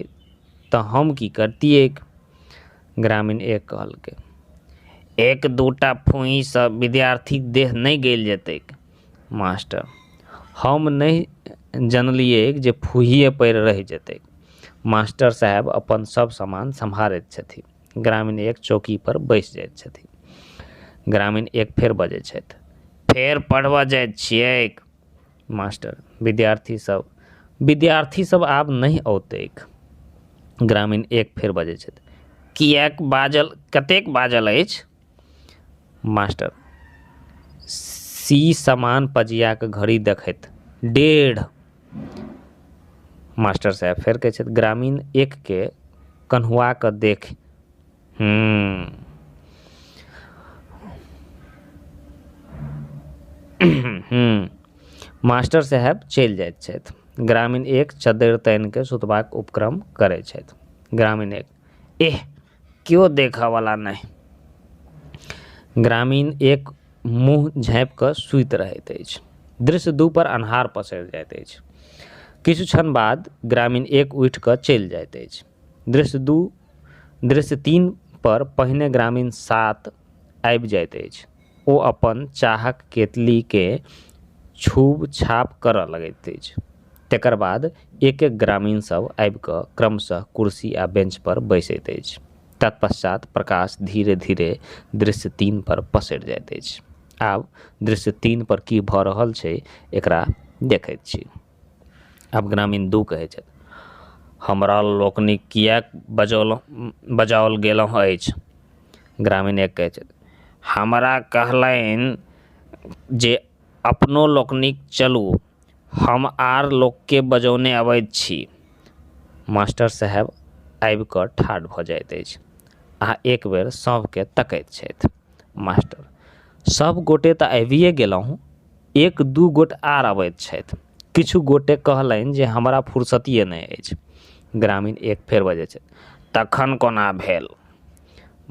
तऽ हम की करतियैक ग्रामीण एक कहलकै एक दू टा फुहि सऽ विद्यार्थी देह नहि गलि जेतैक मास्टर हम नहि जनलियै जे फुहिये पएर रहि जेतै मास्टर साहेब अपन सब समान सम्हारैत छथिन ग्रामीण एक चौकी पर बैस जाइत छथिन ग्रामीण एक फेर बजै छथि फेर पढ़बऽ जाइत छियैक मास्टर विद्यार्थी सब विद्यार्थी सब आब नहि औतैक ग्रामीण एक फेर बजै छथि किएक बाजल कतेक बाजल अछि मास्टर सी समान पजियाक घड़ी देखैत डेढ़ मास्टर साहेब फेर कहै छथि ग्रामीण एक के कन्हुआ कऽ देख Hmm. हूँ मास्टर साहेब चलि जाइत छथि ग्रामीण एक चद्दरि तानि कऽ सुतबाक उपक्रम करै छथि ग्रामीण एक एह केओ देखऽवला नहि ग्रामीण एक मुँह झाँपि कऽ सुति रहैत अछि दृश्य दू पर अन्हार पसरि जाइत अछि किछु क्षण बाद ग्रामीण एक उठि कऽ चलि जाइत अछि दृश्य दू दृश्य तीन पर पहिने ग्रामीण सात आबि जाइत अछि ओ अपन चाहक केतली के छूब छाप करऽ लगैत अछि तेकर बाद एक एक ग्रामीण सब आबि कऽ क्रमशः कुर्सी आ बेंच पर बैसैत अछि तत्पश्चात प्रकाश धीरे धीरे दृश्य तीन पर पसरि जाइत अछि आब दृश्य तीन पर की भऽ रहल छै एकरा देखैत छी आब ग्रामीण दू कहै छथि हमरा लोकनिक किएक बजौलहुँ बजाओल गेलहुँ अछि ग्रामीण एक कहै छथि हमरा कहलनि जे अपनो लोकनिक चलू हम आर लोकके बजौने अबैत छी मास्टर साहेब आबि कऽ ठाढ़ भऽ जाइत अछि आ एकबेर सभके तकैत छथि मास्टर सब गोटे तऽ आबिये गेलहुँ एक दू गोट आर अबैत छथि किछु गोटे कहलनि जे हमरा फुर्सतिये नहि अछि ग्रामीण एक फेर बजै छथि तखन कोना भेल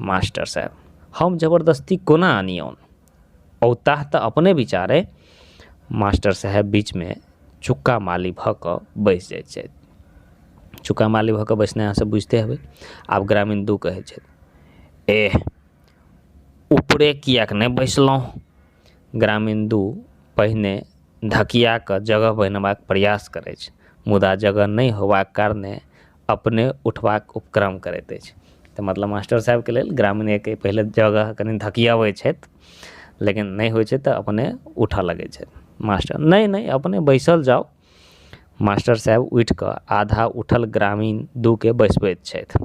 मास्टर साहेब हम जबरदस्ती कोना अनियौन औताह तऽ अपने विचार अइ मास्टर साहेब बीचमे चुक्का माली भऽ कऽ बैस जाइ छथि चुक्का माली भऽ कऽ बैसनाइ अहाँ सब बुझिते हेबै आब ग्रामीण दू कहै छथि एह ऊपरे किएक नहि बैसलहुँ ग्रामीण दू पहिने धकिया कऽ जगह बनेबाक प्रयास करै छै मुदा जगह नहि होयबाक कारणे अपने उठबाक उपक्रम करैत अछि तऽ मतलब मास्टर साहेबके लेल ग्रामीण एक पहिले जगह कनी धकियबै छथि लेकिन नहि होइ छै तऽ अपने उठऽ लगै छथि मास्टर नहि नहि अपने बैसल जाउ मास्टर साहेब उठि कऽ आधा उठल ग्रामीण दूके बैसबैत छथि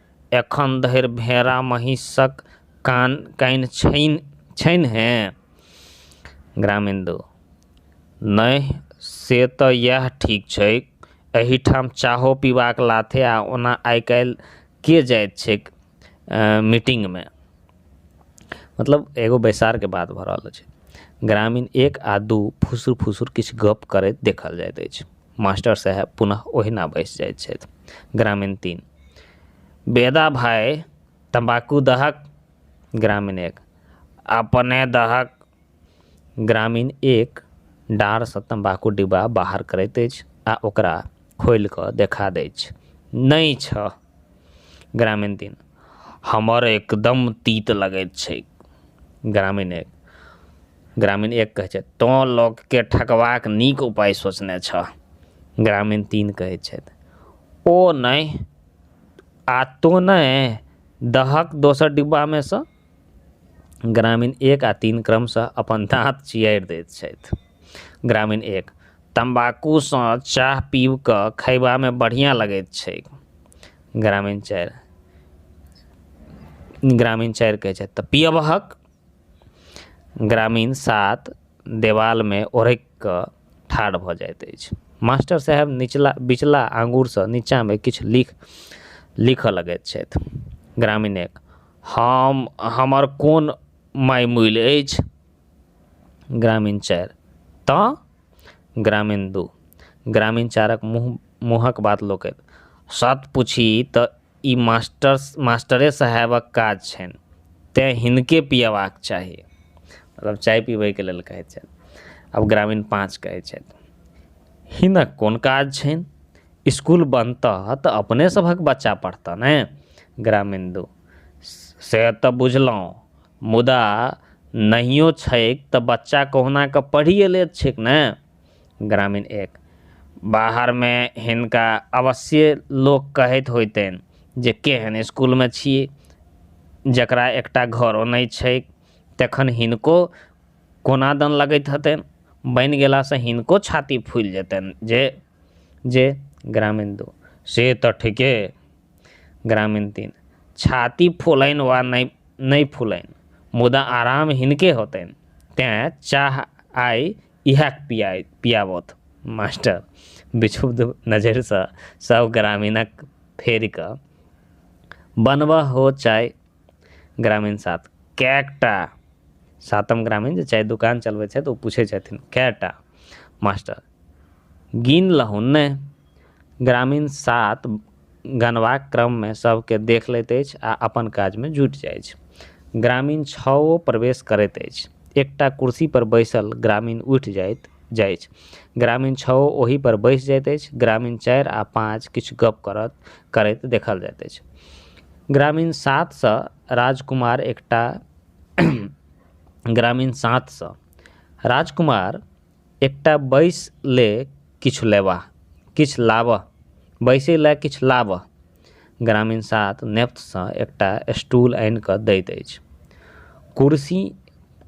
एखन धरि भेड़ा महीसक कान कानि छैन्ह हें? ग्रामेन्दु, नहि, से तँ यएह ठीक छैक। एहिठाम चाहो पीबाक लाथे आ ओना आइकाल्हि के जाइत छैक मीटिंगमे? मतलब एगो बैसारके बात भऽ रहल अछि। ग्रामीण एक आ दू फुसुर-फुसुर किछु गप्प करैत देखल जाइत अछि। मास्टर साहेब पुनः ओहिना बैसि जाइत छथि ग्रामीण तीन बेदा भाय तम्बाकू दहक ग्रामीण एक अपने दहक ग्रामीण एक डाँरसँ तम्बाकू डिब्बा बाहर करैत अछि आ ओकरा खोलि कऽ देखा दै छै नहि छह ग्रामीण तीन हमर एकदम तीत लगैत छैक ग्रामीण एक ग्रामीण एक कहै छथि तोँ लोकके ठकबाक नीक उपाय सोचने छह ग्रामीण तीन कहै छथि ओ नहि आ तोँ नहि दहक दोसर डिब्बामे सँ ग्रामीण एक आ तीन क्रमशः अपन दाँत चियारि दैत छथि ग्रामीण एक तम्बाकूसँ चाह पीब कऽ खयबामे बढ़िआँ लगैत छैक ग्रामीण चारि ग्रामीण चारि कहै छथि तऽ पियबहक ग्रामीण सात देवालमे ओढ़ैक कऽ ठाढ़ भऽ जाइत अछि मास्टर साहेब निचला बिचला आँगुरसँ नीचाँमे किछु लिख लिखऽ लगैत छथि ग्रामीणक हम हमर कोन माइ मूइल अछि ग्रामीण चारि तऽ ग्रामीण दू ग्रामीण चारिक मुँह मुँहक बात लोकैत सत पुछी तऽ ई मास्टर मास्टरे साहेबक काज छनि तैं हिनके पीयेबाक चाही मतलब चाय पीबैके लेल कहै छथि आब ग्रामीण पाँच कहै छथि हिनक कोन काज छनि इसकुल बनतह तऽ अपने सभक बच्चा पढ़तऽ ने ग्रामीण दू से तऽ बुझलहुॅं मुदा नहियो छैक तऽ बच्चा कहुना कऽ पढ़िये लैत छैक ने ग्रामीण एक बाहरमे हिनका अवश्ये लोक कहैत होयतनि जे केहन इसकुलमे छी जेकरा एकटा घरो नहि छैक तखन हिनको कोना दन लगैत हेतनि बनि गेला से हिनको छाती फुलि जेतनि जे जे ग्रामीण दू से तऽ ठीके ग्रामीण तीन छाती फुलनि वा नहि नहि फुलनि मुदा आराम हिनके होतनि तैं चाह आइ इएह पिआइ पिआबथु मास्टर विक्षुब्ध नजरिसँ सभ ग्रामीणक फेरि कऽ बनबऽ हो चाय ग्रामीण सात कएटा सातम ग्रामीण जे चाय दोकान चलबै छथि ओ पुछै छथिन कएटा मास्टर गिन लहुन ने ग्रामीण सात गनबाक क्रममे सबके देख लैत अछि आ अपन काजमे जुटि जाइ अछि ग्रामीण छओ प्रवेश करैत अछि एकटा कुर्सी पर बैसल ग्रामीण उठि जाइत जाइ अछि ग्रामीण छओ ओहि पर बैस जाइत अछि ग्रामीण चारि आ पाँच किछु गप करत करैत देखल जाइत अछि ग्रामीण सात सँ राजकुमार एकटा ग्रामीण सात सँ राजकुमार एकटा बैस ले किछु लेबा किछु लाबऽ बैसै लए किछु लाबऽ ग्रामीण सात नेपथसँ एकटा स्टूल आनि कऽ दैत अछि कुर्सी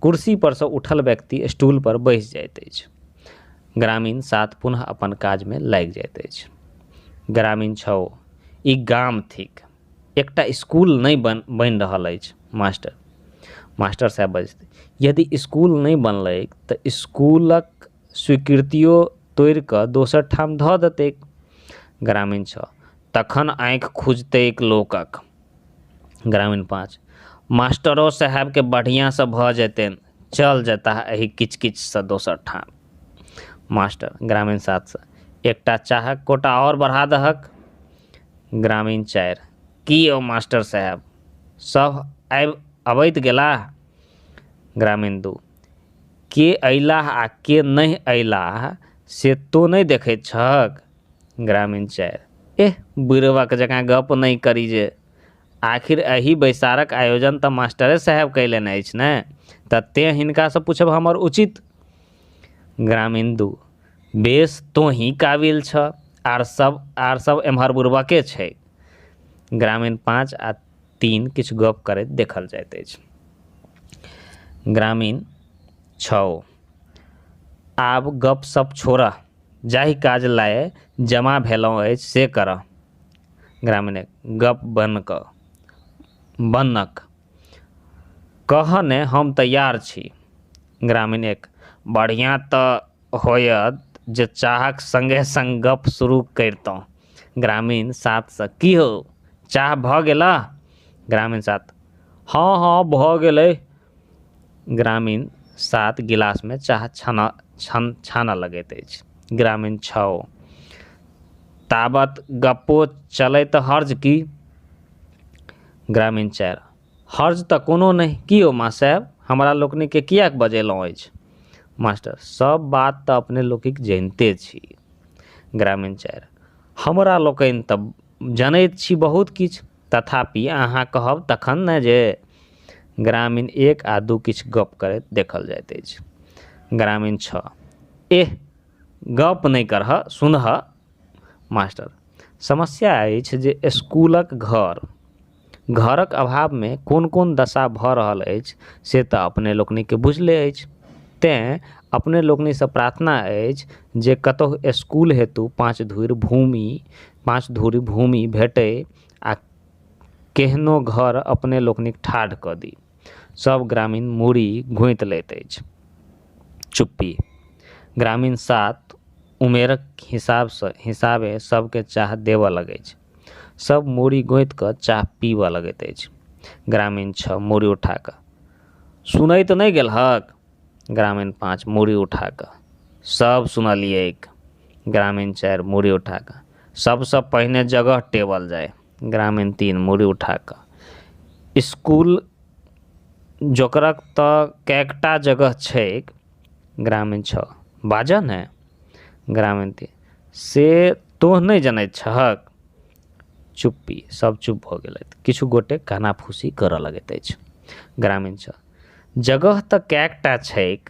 कुर्सी पर सँ उठल व्यक्ति स्टूल पर बैस जाइत अछि ग्रामीण सात पुनः अपन काजमे लागि जाइत अछि ग्रामीण छओ ई गाम थिक एकटा इसकुल नहि बन बनि रहल अछि मास्टर मास्टर साहब बजथिन यदि इसकुल नहि बनलै तऽ इसकुलक स्वीकृतियो तोड़ि कऽ दोसर ठाम धऽ देतै ग्रामीण छओ तखन आँखि खुजतै लोकक ग्रामीण पाँच मास्टरो साहबके बढ़िऑं सऽ भऽ जेतनि चल जेता एहि किच किच सऽ दोसर ठाम मास्टर ग्रामीण सात सऽ एकटा चाहक कोटा आओर बढ़ा दहक ग्रामीण चारि की यौ मास्टर साहेब सभ आबि अबैत गेलाह ग्रामीण दू के अयलाह आ के नहि अयलाह से तोँ नहि देखै छहक ग्रामीण चारि एह बुड़बक जकाँ गप्प नहि करी जे आखिर एहि बैसारक आयोजन तऽ मास्टरे साहेब कयलनि अछि ने तऽ तेँ हिनकासँ पूछब हमर उचित ग्रामिन्दु बेस तोंही काबिल छऽ आर सब आर सब एमहर बुरबके छै ग्रामीण पाँच आ तीन किछु गप करैत देखल जाइत अछि ग्रामीण छओ आब गप सप छोड़ऽ जाहि काज लाए जमा भेलहुँ अछि से करऽ ग्रामीण एक गप बन्न कऽ बन्नक कहऽ ने हम तैयार छी। ग्रामीण एक, बढ़ियाँ तँ होयत जे चाहक संगे-संग गप्प शुरू करितौं। ग्रामीण सात सँ, की हौ, चाह भऽ गेलह? ग्रामीण सात, हँ-हँ भऽ गेलै। ग्रामीण सात गिलासमे चाह छानऽ लगैत अछि। ग्रामीण छओ, ताबत गप्पो चलै तँ हर्ज की? ग्रामीण चारि हर्ज तऽ कोनो नहि की यौ माँ साहेब हमरा लोकनि के किए बजेलहुॅं अछि मास्टर सब बात तऽ अपने लोकनिक जनिते छी ग्रामीण चारि हमरा लोकनि तऽ जनैत छी बहुत किछु तथापि अहाँ कहब तखन ने जे ग्रामीण एक आ दू किछु गप करैत देखल जाइत अछि ग्रामीण छओ एह गप नहि करहऽ सुनहऽ मास्टर समस्या अछि जे इसकुलक घर घरक अभावमे कोन कोन दशा भऽ रहल अछि से तऽ अपने लोकनिक बुझले अछि तैं अपने लोकनि से प्रार्थना अछि जे कतहु इसकुल हेतु पाँच धूर भूमि पाँच धूर भूमि भेटै आ केहनो घर अपने लोकनिक ठाढ़ कऽ दी सभ ग्रामीण मूड़ी गूँथि लैत अछि। चुप्पी। ग्रामीण सात उमेरक हिसाबसँ हिसाबे सभकेँ चाह देबऽ लगैछ। सभ मूड़ी गूँथि कऽ चाह पीबऽ लगैत अछि। ग्रामीण छह मूड़ी उठा कऽ। सुनैत नहि गेलहक? ग्रामीण पाँच मूड़ी उठा कऽ। सभ सुनलियैक। ग्रामीण चारि मूड़ी उठा कऽ। सभसँ पहिने जगह टेबल जाय। ग्रामीण तीन मूड़ी उठा कऽ इसकुल जकरा तऽ कएकटा जगह छैक ग्रामीण छओ बाजऽ ने ग्रामीण तीन से तों नहि जनैत छहक चुप्पी सब चुप भऽ गेलथि किछु गोटे कानाफूसी करऽ लगैत अछि ग्रामीण छओ जगह तऽ कएकटा छैक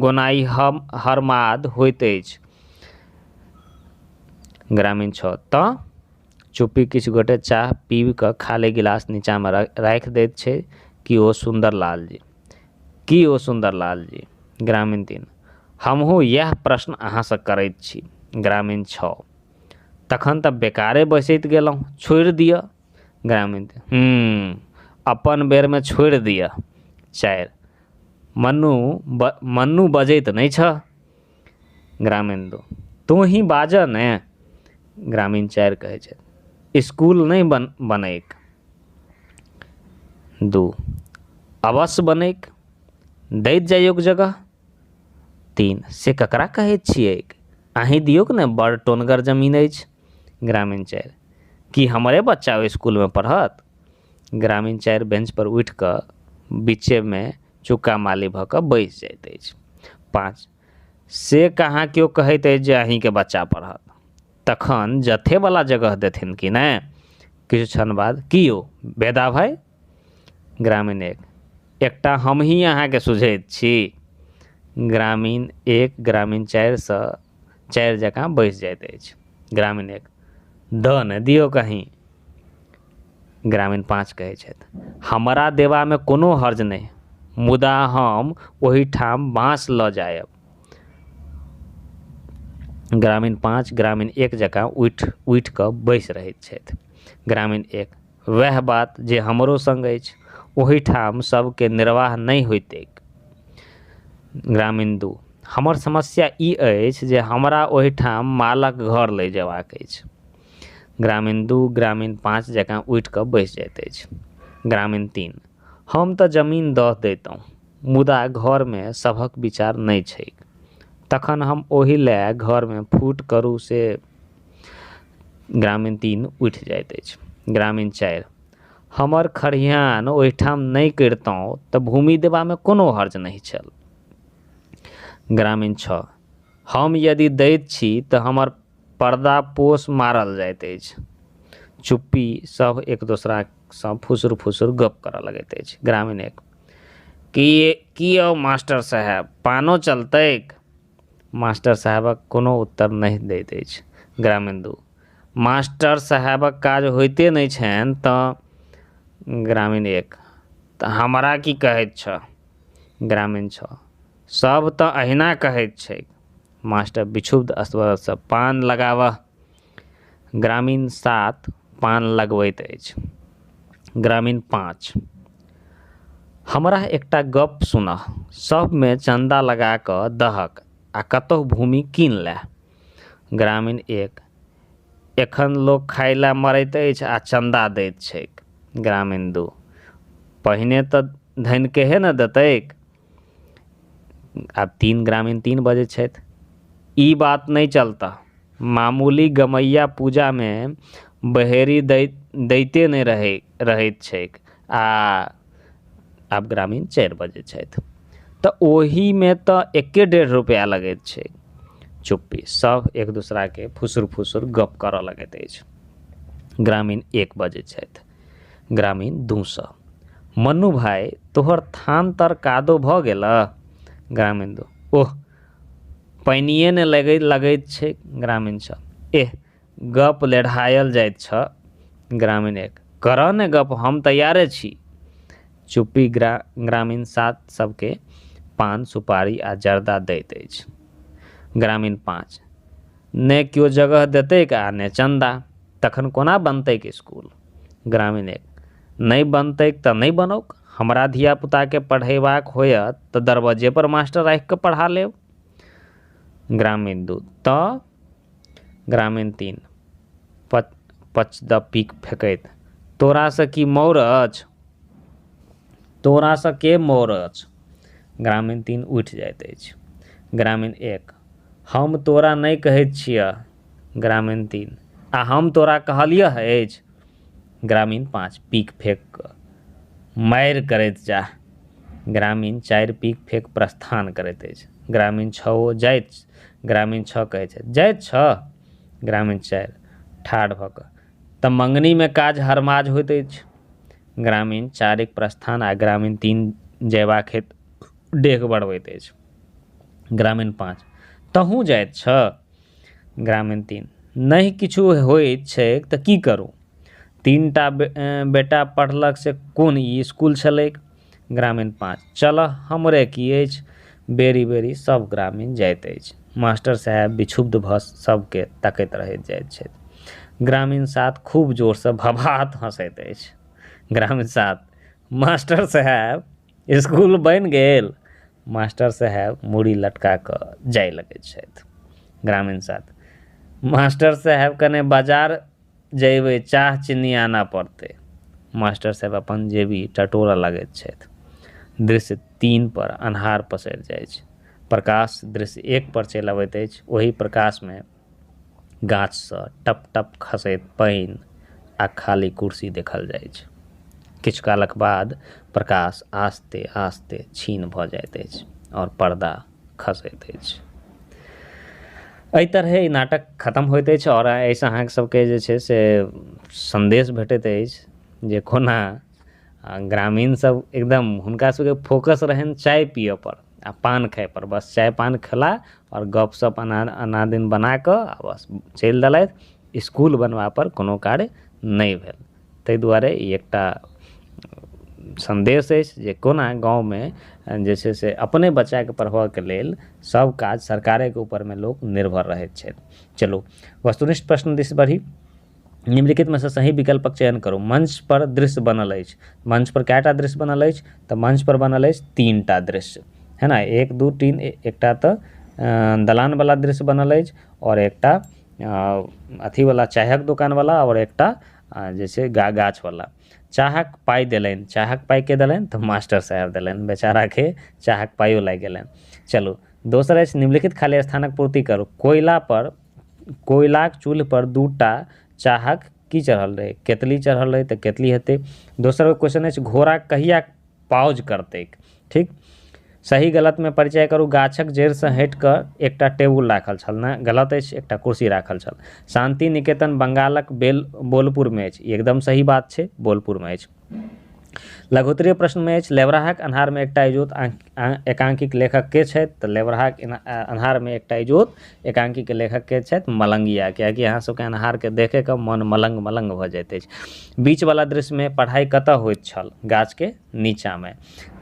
गोनाइ हम हरमाद होइत अछि ग्रामीण छओ तऽ चुप्पी किछु गोटे चाह पीब कऽ खाली गिलास नीचाँमे राखि दैत छै कि ओ सुन्दर लाल जी कि ओ सुन्दर लाल जी ग्रामीण तीन हमहुँ इएह प्रश्न अहाँ से करैत छी ग्रामीण छओ तखन तऽ बेकारे बैसैत गेलहुॅं छोड़ि दिअ ग्रामीण तीन हूँ अपन बेरमे छोड़ि दिअ चारि मनु ब मनु बजैत नहि छऽ ग्रामीण दू तोँही बाजऽ ने ग्रामीण चारि कहै छै इसकुल नहि बन बनैक दू अवश्य बनैक दैत जाइयोक जगह तीन से ककरा कहैत छियैक अहीं दियौक ने बड़ टोनगर जमीन अछि ग्रामीण चारि की हमरे बच्चा ओहि इसकुलमे पढ़त ग्रामीण चारि बेंच पर उठि कऽ बीचे मे चुका माली भऽ कऽ बैसि जाइत अछि पाँच से कहाँ केओ कहैत अछि जे अहीॅंके बच्चा पढ़त तखन जथे बला जगह देथिन कि नहि किछु क्षण बाद की यौ बेदा भाइ ग्रामीण एक एकटा हमही अहाँके सुझैत छी ग्रामीण एक ग्रामीण चारि सँ चारि जकाँ बैसि जाइत अछि ग्रामीण एक दऽ ने दियौक अहीॅं ग्रामीण पाँच कहै छथि हमरा देबामे कोनो हर्ज नहि मुदा हम ओहिठाम बाँस लऽ जायब ग्रामीण पाँच ग्रामीण एक जकाँ उठि उठि कऽ बैस रहैत छथि ग्रामीण एक वएह बात जे हमरो संग अछि ओहिठाम सबके निर्वाह नहि होइत ग्रामीण दू हमर समस्या ई अछि जे हमरा ओहिठाम मालक घर लै जेबाक अछि ग्रामीण दू ग्रामीण पाँच जकाँ उठि कऽ बैस जाइत अछि ग्रामीण तीन हम तऽ जमीन दऽ दैतहुँ मुदा घरमे सभक विचार नहि छैक तखन हम ओहि लए घरमे फूट करू से ग्रामीण तीन उठि जाइत अछि ग्रामीण चारि हमर खरिहान ओहिठाम नहि करितहुँ तऽ भूमि देबामे कोनो हर्ज नहि छल ग्रामीण छओ हम यदि दैत छी तऽ हमर पर्दा पोस मारल जाइत अछि चुप्पी सब एक दोसरा सँ फुसुर फुसुर गप करऽ लगैत अछि ग्रामीण एक की की यौ मास्टर साहेब पानो चलतैक मास्टर साहेबक कोनो उत्तर नहि दैत अछि ग्रामीण दू मास्टर साहेबक काज होइते नहि छनि तँ ग्रामीण एक तऽ हमरा की कहैत छह ग्रामीण छह सब तँ अहिना कहैत छैक मास्टर विक्षुब्ध स्वरसँ पान लगाबह। ग्रामीण सात पान लगबैत अछि। ग्रामीण पाँच हमरा एकटा गप्प सुनह। सभमे चन्दा लगा कऽ दहक आ कतहु भूमि कीन लएह। ग्रामीण एक एखन लोक खाइ लए मरैत अछि आ चन्दा दैत छैक। ग्रामीण दू पहिने तँ धनिकेहे ने देतैक। आ तीन ग्रामीण तीन बजै छथि ई बात नहि चलता मामूली गमैया पूजा मे बहेरी दैत दैते नहि रहै रहैत छैक आ आब ग्रामीण चारि बजै छथि तऽ ओहि मे तऽ एके डेढ़ रुपैआ लगैत छै चुप्पी सब एक दोसरा के फुसुर फुसुर गप करऽ लगैत अछि ग्रामीण एक बजै छथि ग्रामीण दू सए मन्नू भाय तोहर थान तर कादो भऽ गेल ग्रामीण दू ओह पानिए ने लगै लगैत छै ग्रामीण छ एह गप लेढ़ायल जाइत छ ग्रामीण एक करऽ ने गप हम तैयारे छी चुप्पी ग्रा ग्रामीण सात सबके पान सुपारी आ जर्दा दैत अछि ग्रामीण पाँच नहि केओ जगह देतैक आ नहि चन्दा तखन कोना बनतैक इसकुल ग्रामीण एक नहि बनतैक तऽ नहि बनौक हमरा धिया पूताके पढ़ेबाक होयत तऽ दरबज्जे पर मास्टर राखि कऽ पढ़ा लेब ग्रामीण दू तऽ ग्रामीण तीन पच पच द पीक फेकैत तोरा से की मौर अछि तोरा से के मौर अछि ग्रामीण तीन उठि जाइत अछि ग्रामीण एक हम तोरा नहि कहैत छिअ। ग्रामीण तीन, आ हम तोरा कहलिअह अछि? ग्रामीण पाँच, पीक फेक कऽ, मारि करैत जाह। ग्रामीण चारि पीक फेक प्रस्थान करैत अछि। ग्रामीण छओ, जाइत छह। ग्रामीण छह कहैत छथि, जाइत छह? ग्रामीण चारि, ठाढ़ भऽ कऽ, तँ मँगनीमे काज हरमाज होइत अछि। ग्रामीण चारिक प्रस्थान आ ग्रामीण तीन जयबाक हेतु डेग बढ़बैत अछि। ग्रामीण पाँच तहूँ जाइत छऽ ग्रामीण तीन नहि किछु होइत छैक तऽ की करू तीन टा बेटा पढ़लक से कोन ई इसकुल छलैक ग्रामीण पाँच चलऽ हमरे की अछि बेरी बेरी सब ग्रामीण जाइत अछि मास्टर साहेब विछुब्ध भऽ सबके तकैत रहि जाइत छथि ग्रामीण सात खूब जोरसँ भभात हँसैत अछि ग्रामीण सात मास्टर साहेब इसकुल बनि गेल मास्टर साहेब मूड़ी लटका कऽ जाय लगै छथि ग्रामीण छात्र मास्टर साहेब कने बजार जयबै चाह चीनी आनऽ पड़तै मास्टर साहेब अपन जेबी टटोलऽ लगैत छथि दृश्य तीन पर अन्हार पसरि जाइ छै प्रकाश दृश्य एक पर चलि अबैत अछि ओहि प्रकाशमे गाछसँ टप टप खसैत पानि आ खाली कुर्सी देखल जाइ छै किछु कालक बाद प्रकाश आस्ते आस्ते छीन भऽ जाइत अछि आओर पर्दा खसैत अछि एहि तरहे ई नाटक खतम होइत अछि आओर एहिसँ अहाँ सबके जे छै से सन्देश भेटैत अछि जे कोना ग्रामीण सब एकदम हुनका सबके फोकस रहनि चाय पीयऽ पर आ पान खाय पर बस चाय पान खेला आओर गप सप अना अनादिन बना कऽ आ बस चलि देलथि इसकुल बनबा पर कोनो कार्य नहि भेल ताहि दुआरे ई एकटा सन्देश अछि जे कोना गाँवमे जे छै से अपने बच्चाके पढ़बऽके लेल सब काज सरकारेके ऊपरमे लोक निर्भर रहैत छथि चलू वस्तुनिष्ठ प्रश्न दिस बढ़ी निम्नलिखित मे सँ सही विकल्पक चयन करू मंच पर दृश्य बनल अछि मंच पर कएटा दृश्य बनल अछि तऽ मंच पर बनल अछि तीन टा दृश्य है ना एक दू तीन एकटा तऽ दलान वाला दृश्य बनल अछि और एकटा अथी वाला चायक दुकान वाला और एकटा जैसे गा गाछ वाला चाहक पाई देलनि चाहक पाई के देलनि तऽ मास्टर साहब देलनि बेचारा के चाहक पाइयो लागि गेलनि चलू दोसर अछि निम्नलिखित खाली स्थानक पूर्ति करू कोयला पर कोयलाक चूल्ह पर दू टा चाहक की चढ़ल रहै केतली चढ़ल रहै तऽ केतली हेतै दोसर क्वेश्चन अछि घोड़ा कहिया पाउज करतैक ठीक सही गलत मे परिचय करू गाछक जड़ि सँ हटि कऽ एकटा टेबुल राखल छल ने गलत अछि एकटा कुर्सी राखल छल शान्ति निकेतन बंगालक बेल बोलपुर मे अछि ई एकदम सही बात छै बोलपुर मे अछि लघोत्तरीय प्रश्नमे अछि लेबरहाक अन्हारमे एकटा इजोत एकांकीक लेखक के छथि तऽ लेबरहाक अन्हारमे एकटा इजोत एकांकीके लेखक के छथि मलंगिया किएकि अहाँ सबके अन्हारके देखिके मन मलंग मलंग भऽ जाइत अछि बीचवला दृश्यमे पढ़ाइ कतऽ होइत छल गाछके नीचाँमे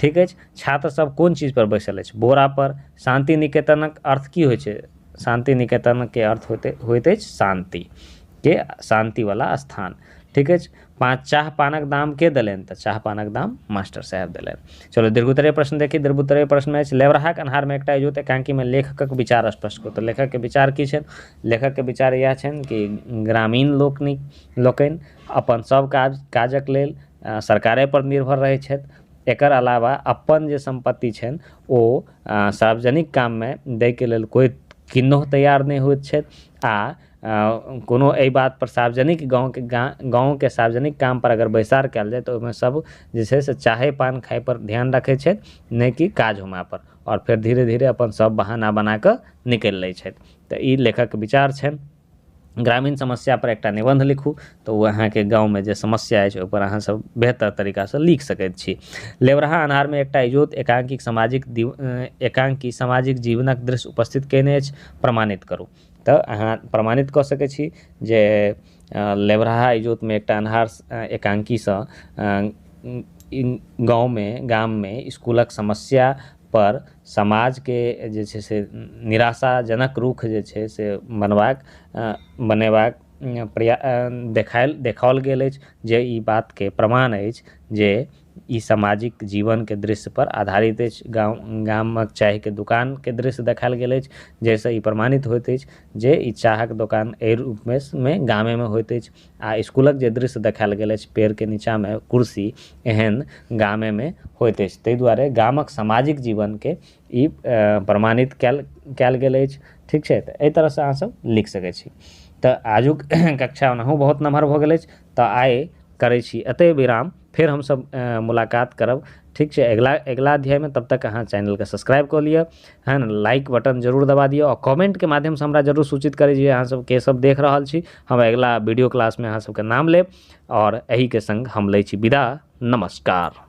ठीक अछि छात्र सब कोन चीजपर बैसल अछि बोरापर शान्ति निकेतनक अर्थ की होइ छै शान्ति निकेतनके अर्थ होइत अछि शान्ति के शान्तिवला स्थान ठीक अछि पाँच चाह पानक दाम के देलनि तऽ चाह पानक दाम मास्टर साहेब देलनि चलू दीर्घोत्तरीय प्रश्न देखी दीर्घोत्तरीय प्रश्न अछि लेबरहाक अन्हारमे एकटा इजोत एकांकीमे लेखकक विचार स्पष्ट करू तऽ लेखकके विचार की छनि लेखकके विचार इएह छनि कि ग्रामीण लोकनि लोकनि अपन सभ काज काजक लेल सरकारे पर निर्भर रहै छथि एकर अलावा अपन जे सम्पत्ति छनि ओ सार्वजनिक काममे दैके लेल कोइ किन्नहुँ तैयार नहि होइत छथि आ कोनो एहि बात पर सार्वजनिक गाँवके गाँवके सार्वजनिक काम पर अगर बैसार कयल जाय तऽ ओहिमे सब जे छै से चाहे पान खाय पर ध्यान रखै छै नहि कि काज होमय पर आओर फेर धीरे धीरे अपन सब बहाना बनाकऽ निकलि लै छथि तऽ ई लेखकके विचार छनि ग्रामीण समस्या पर एकटा निबन्ध लिखू तऽ ओ अहाँके गाँवमे जे समस्या अछि ओहि पर अहाँ सब बेहतर तरीका सऽ लिख सकैत छी लेबरहा अन्हारमे एकटा इजोत एकांकी सामाजिक एकांकी सामाजिक जीवनक दृश्य उपस्थित कयने अछि प्रमाणित करू तऽ अहाँ प्रमाणित कऽ सकै छी जे लेबरहा इजोतमे एकटा अन्हार एकांकीसँ गाँवमे गाममे इसकुलक समस्यापर समाजके जे छै से निराशाजनक रूख जे छै से बनबाक बनेबाक प्रयास देखायल देखाओल गेल अछि जे ई बातके प्रमाण अछि जे ई सामाजिक जीवन के दृश्य पर आधारित अछि गाँव गामक चाय के दोकान के दृश्य देखायल गेल अछि जाहिसॅं ई प्रमाणित होइत अछि जे ई चाहक दोकान एहि रूप मे गामे मे होइत अछि आ इसकुलक जे दृश्य देखायल गेल अछि पेड़ के नीचा मे कुर्सी एहन गामे मे होइत अछि ताहि दुआरे गामक सामाजिक जीवन के ई प्रमाणित कयल कयल गेल अछि ठीक छै तऽ एहि तरह सऽ अहाँ सब लिख सकै छी तऽ आजुक कक्षा ओनाहु बहुत नमहर भऽ गेल अछि तऽ आइ करै छी एतय विराम फेर हमसब मुलाकात करब ठीक छै अगिला अगिला अध्यायमे तब तक अहाँ चैनलके सब्सक्राइब कऽ लिअ है ने लाइक बटन जरूर दबा दिअ आओर कमेन्टके माध्यमसँ हमरा जरूर सूचित करी जे अहाँ सब के सब देख रहल छी हम अगिला वीडियो क्लासमे अहाँ सबके नाम लेब आओर एहिके सङ्ग हम लै छी विदा नमस्कार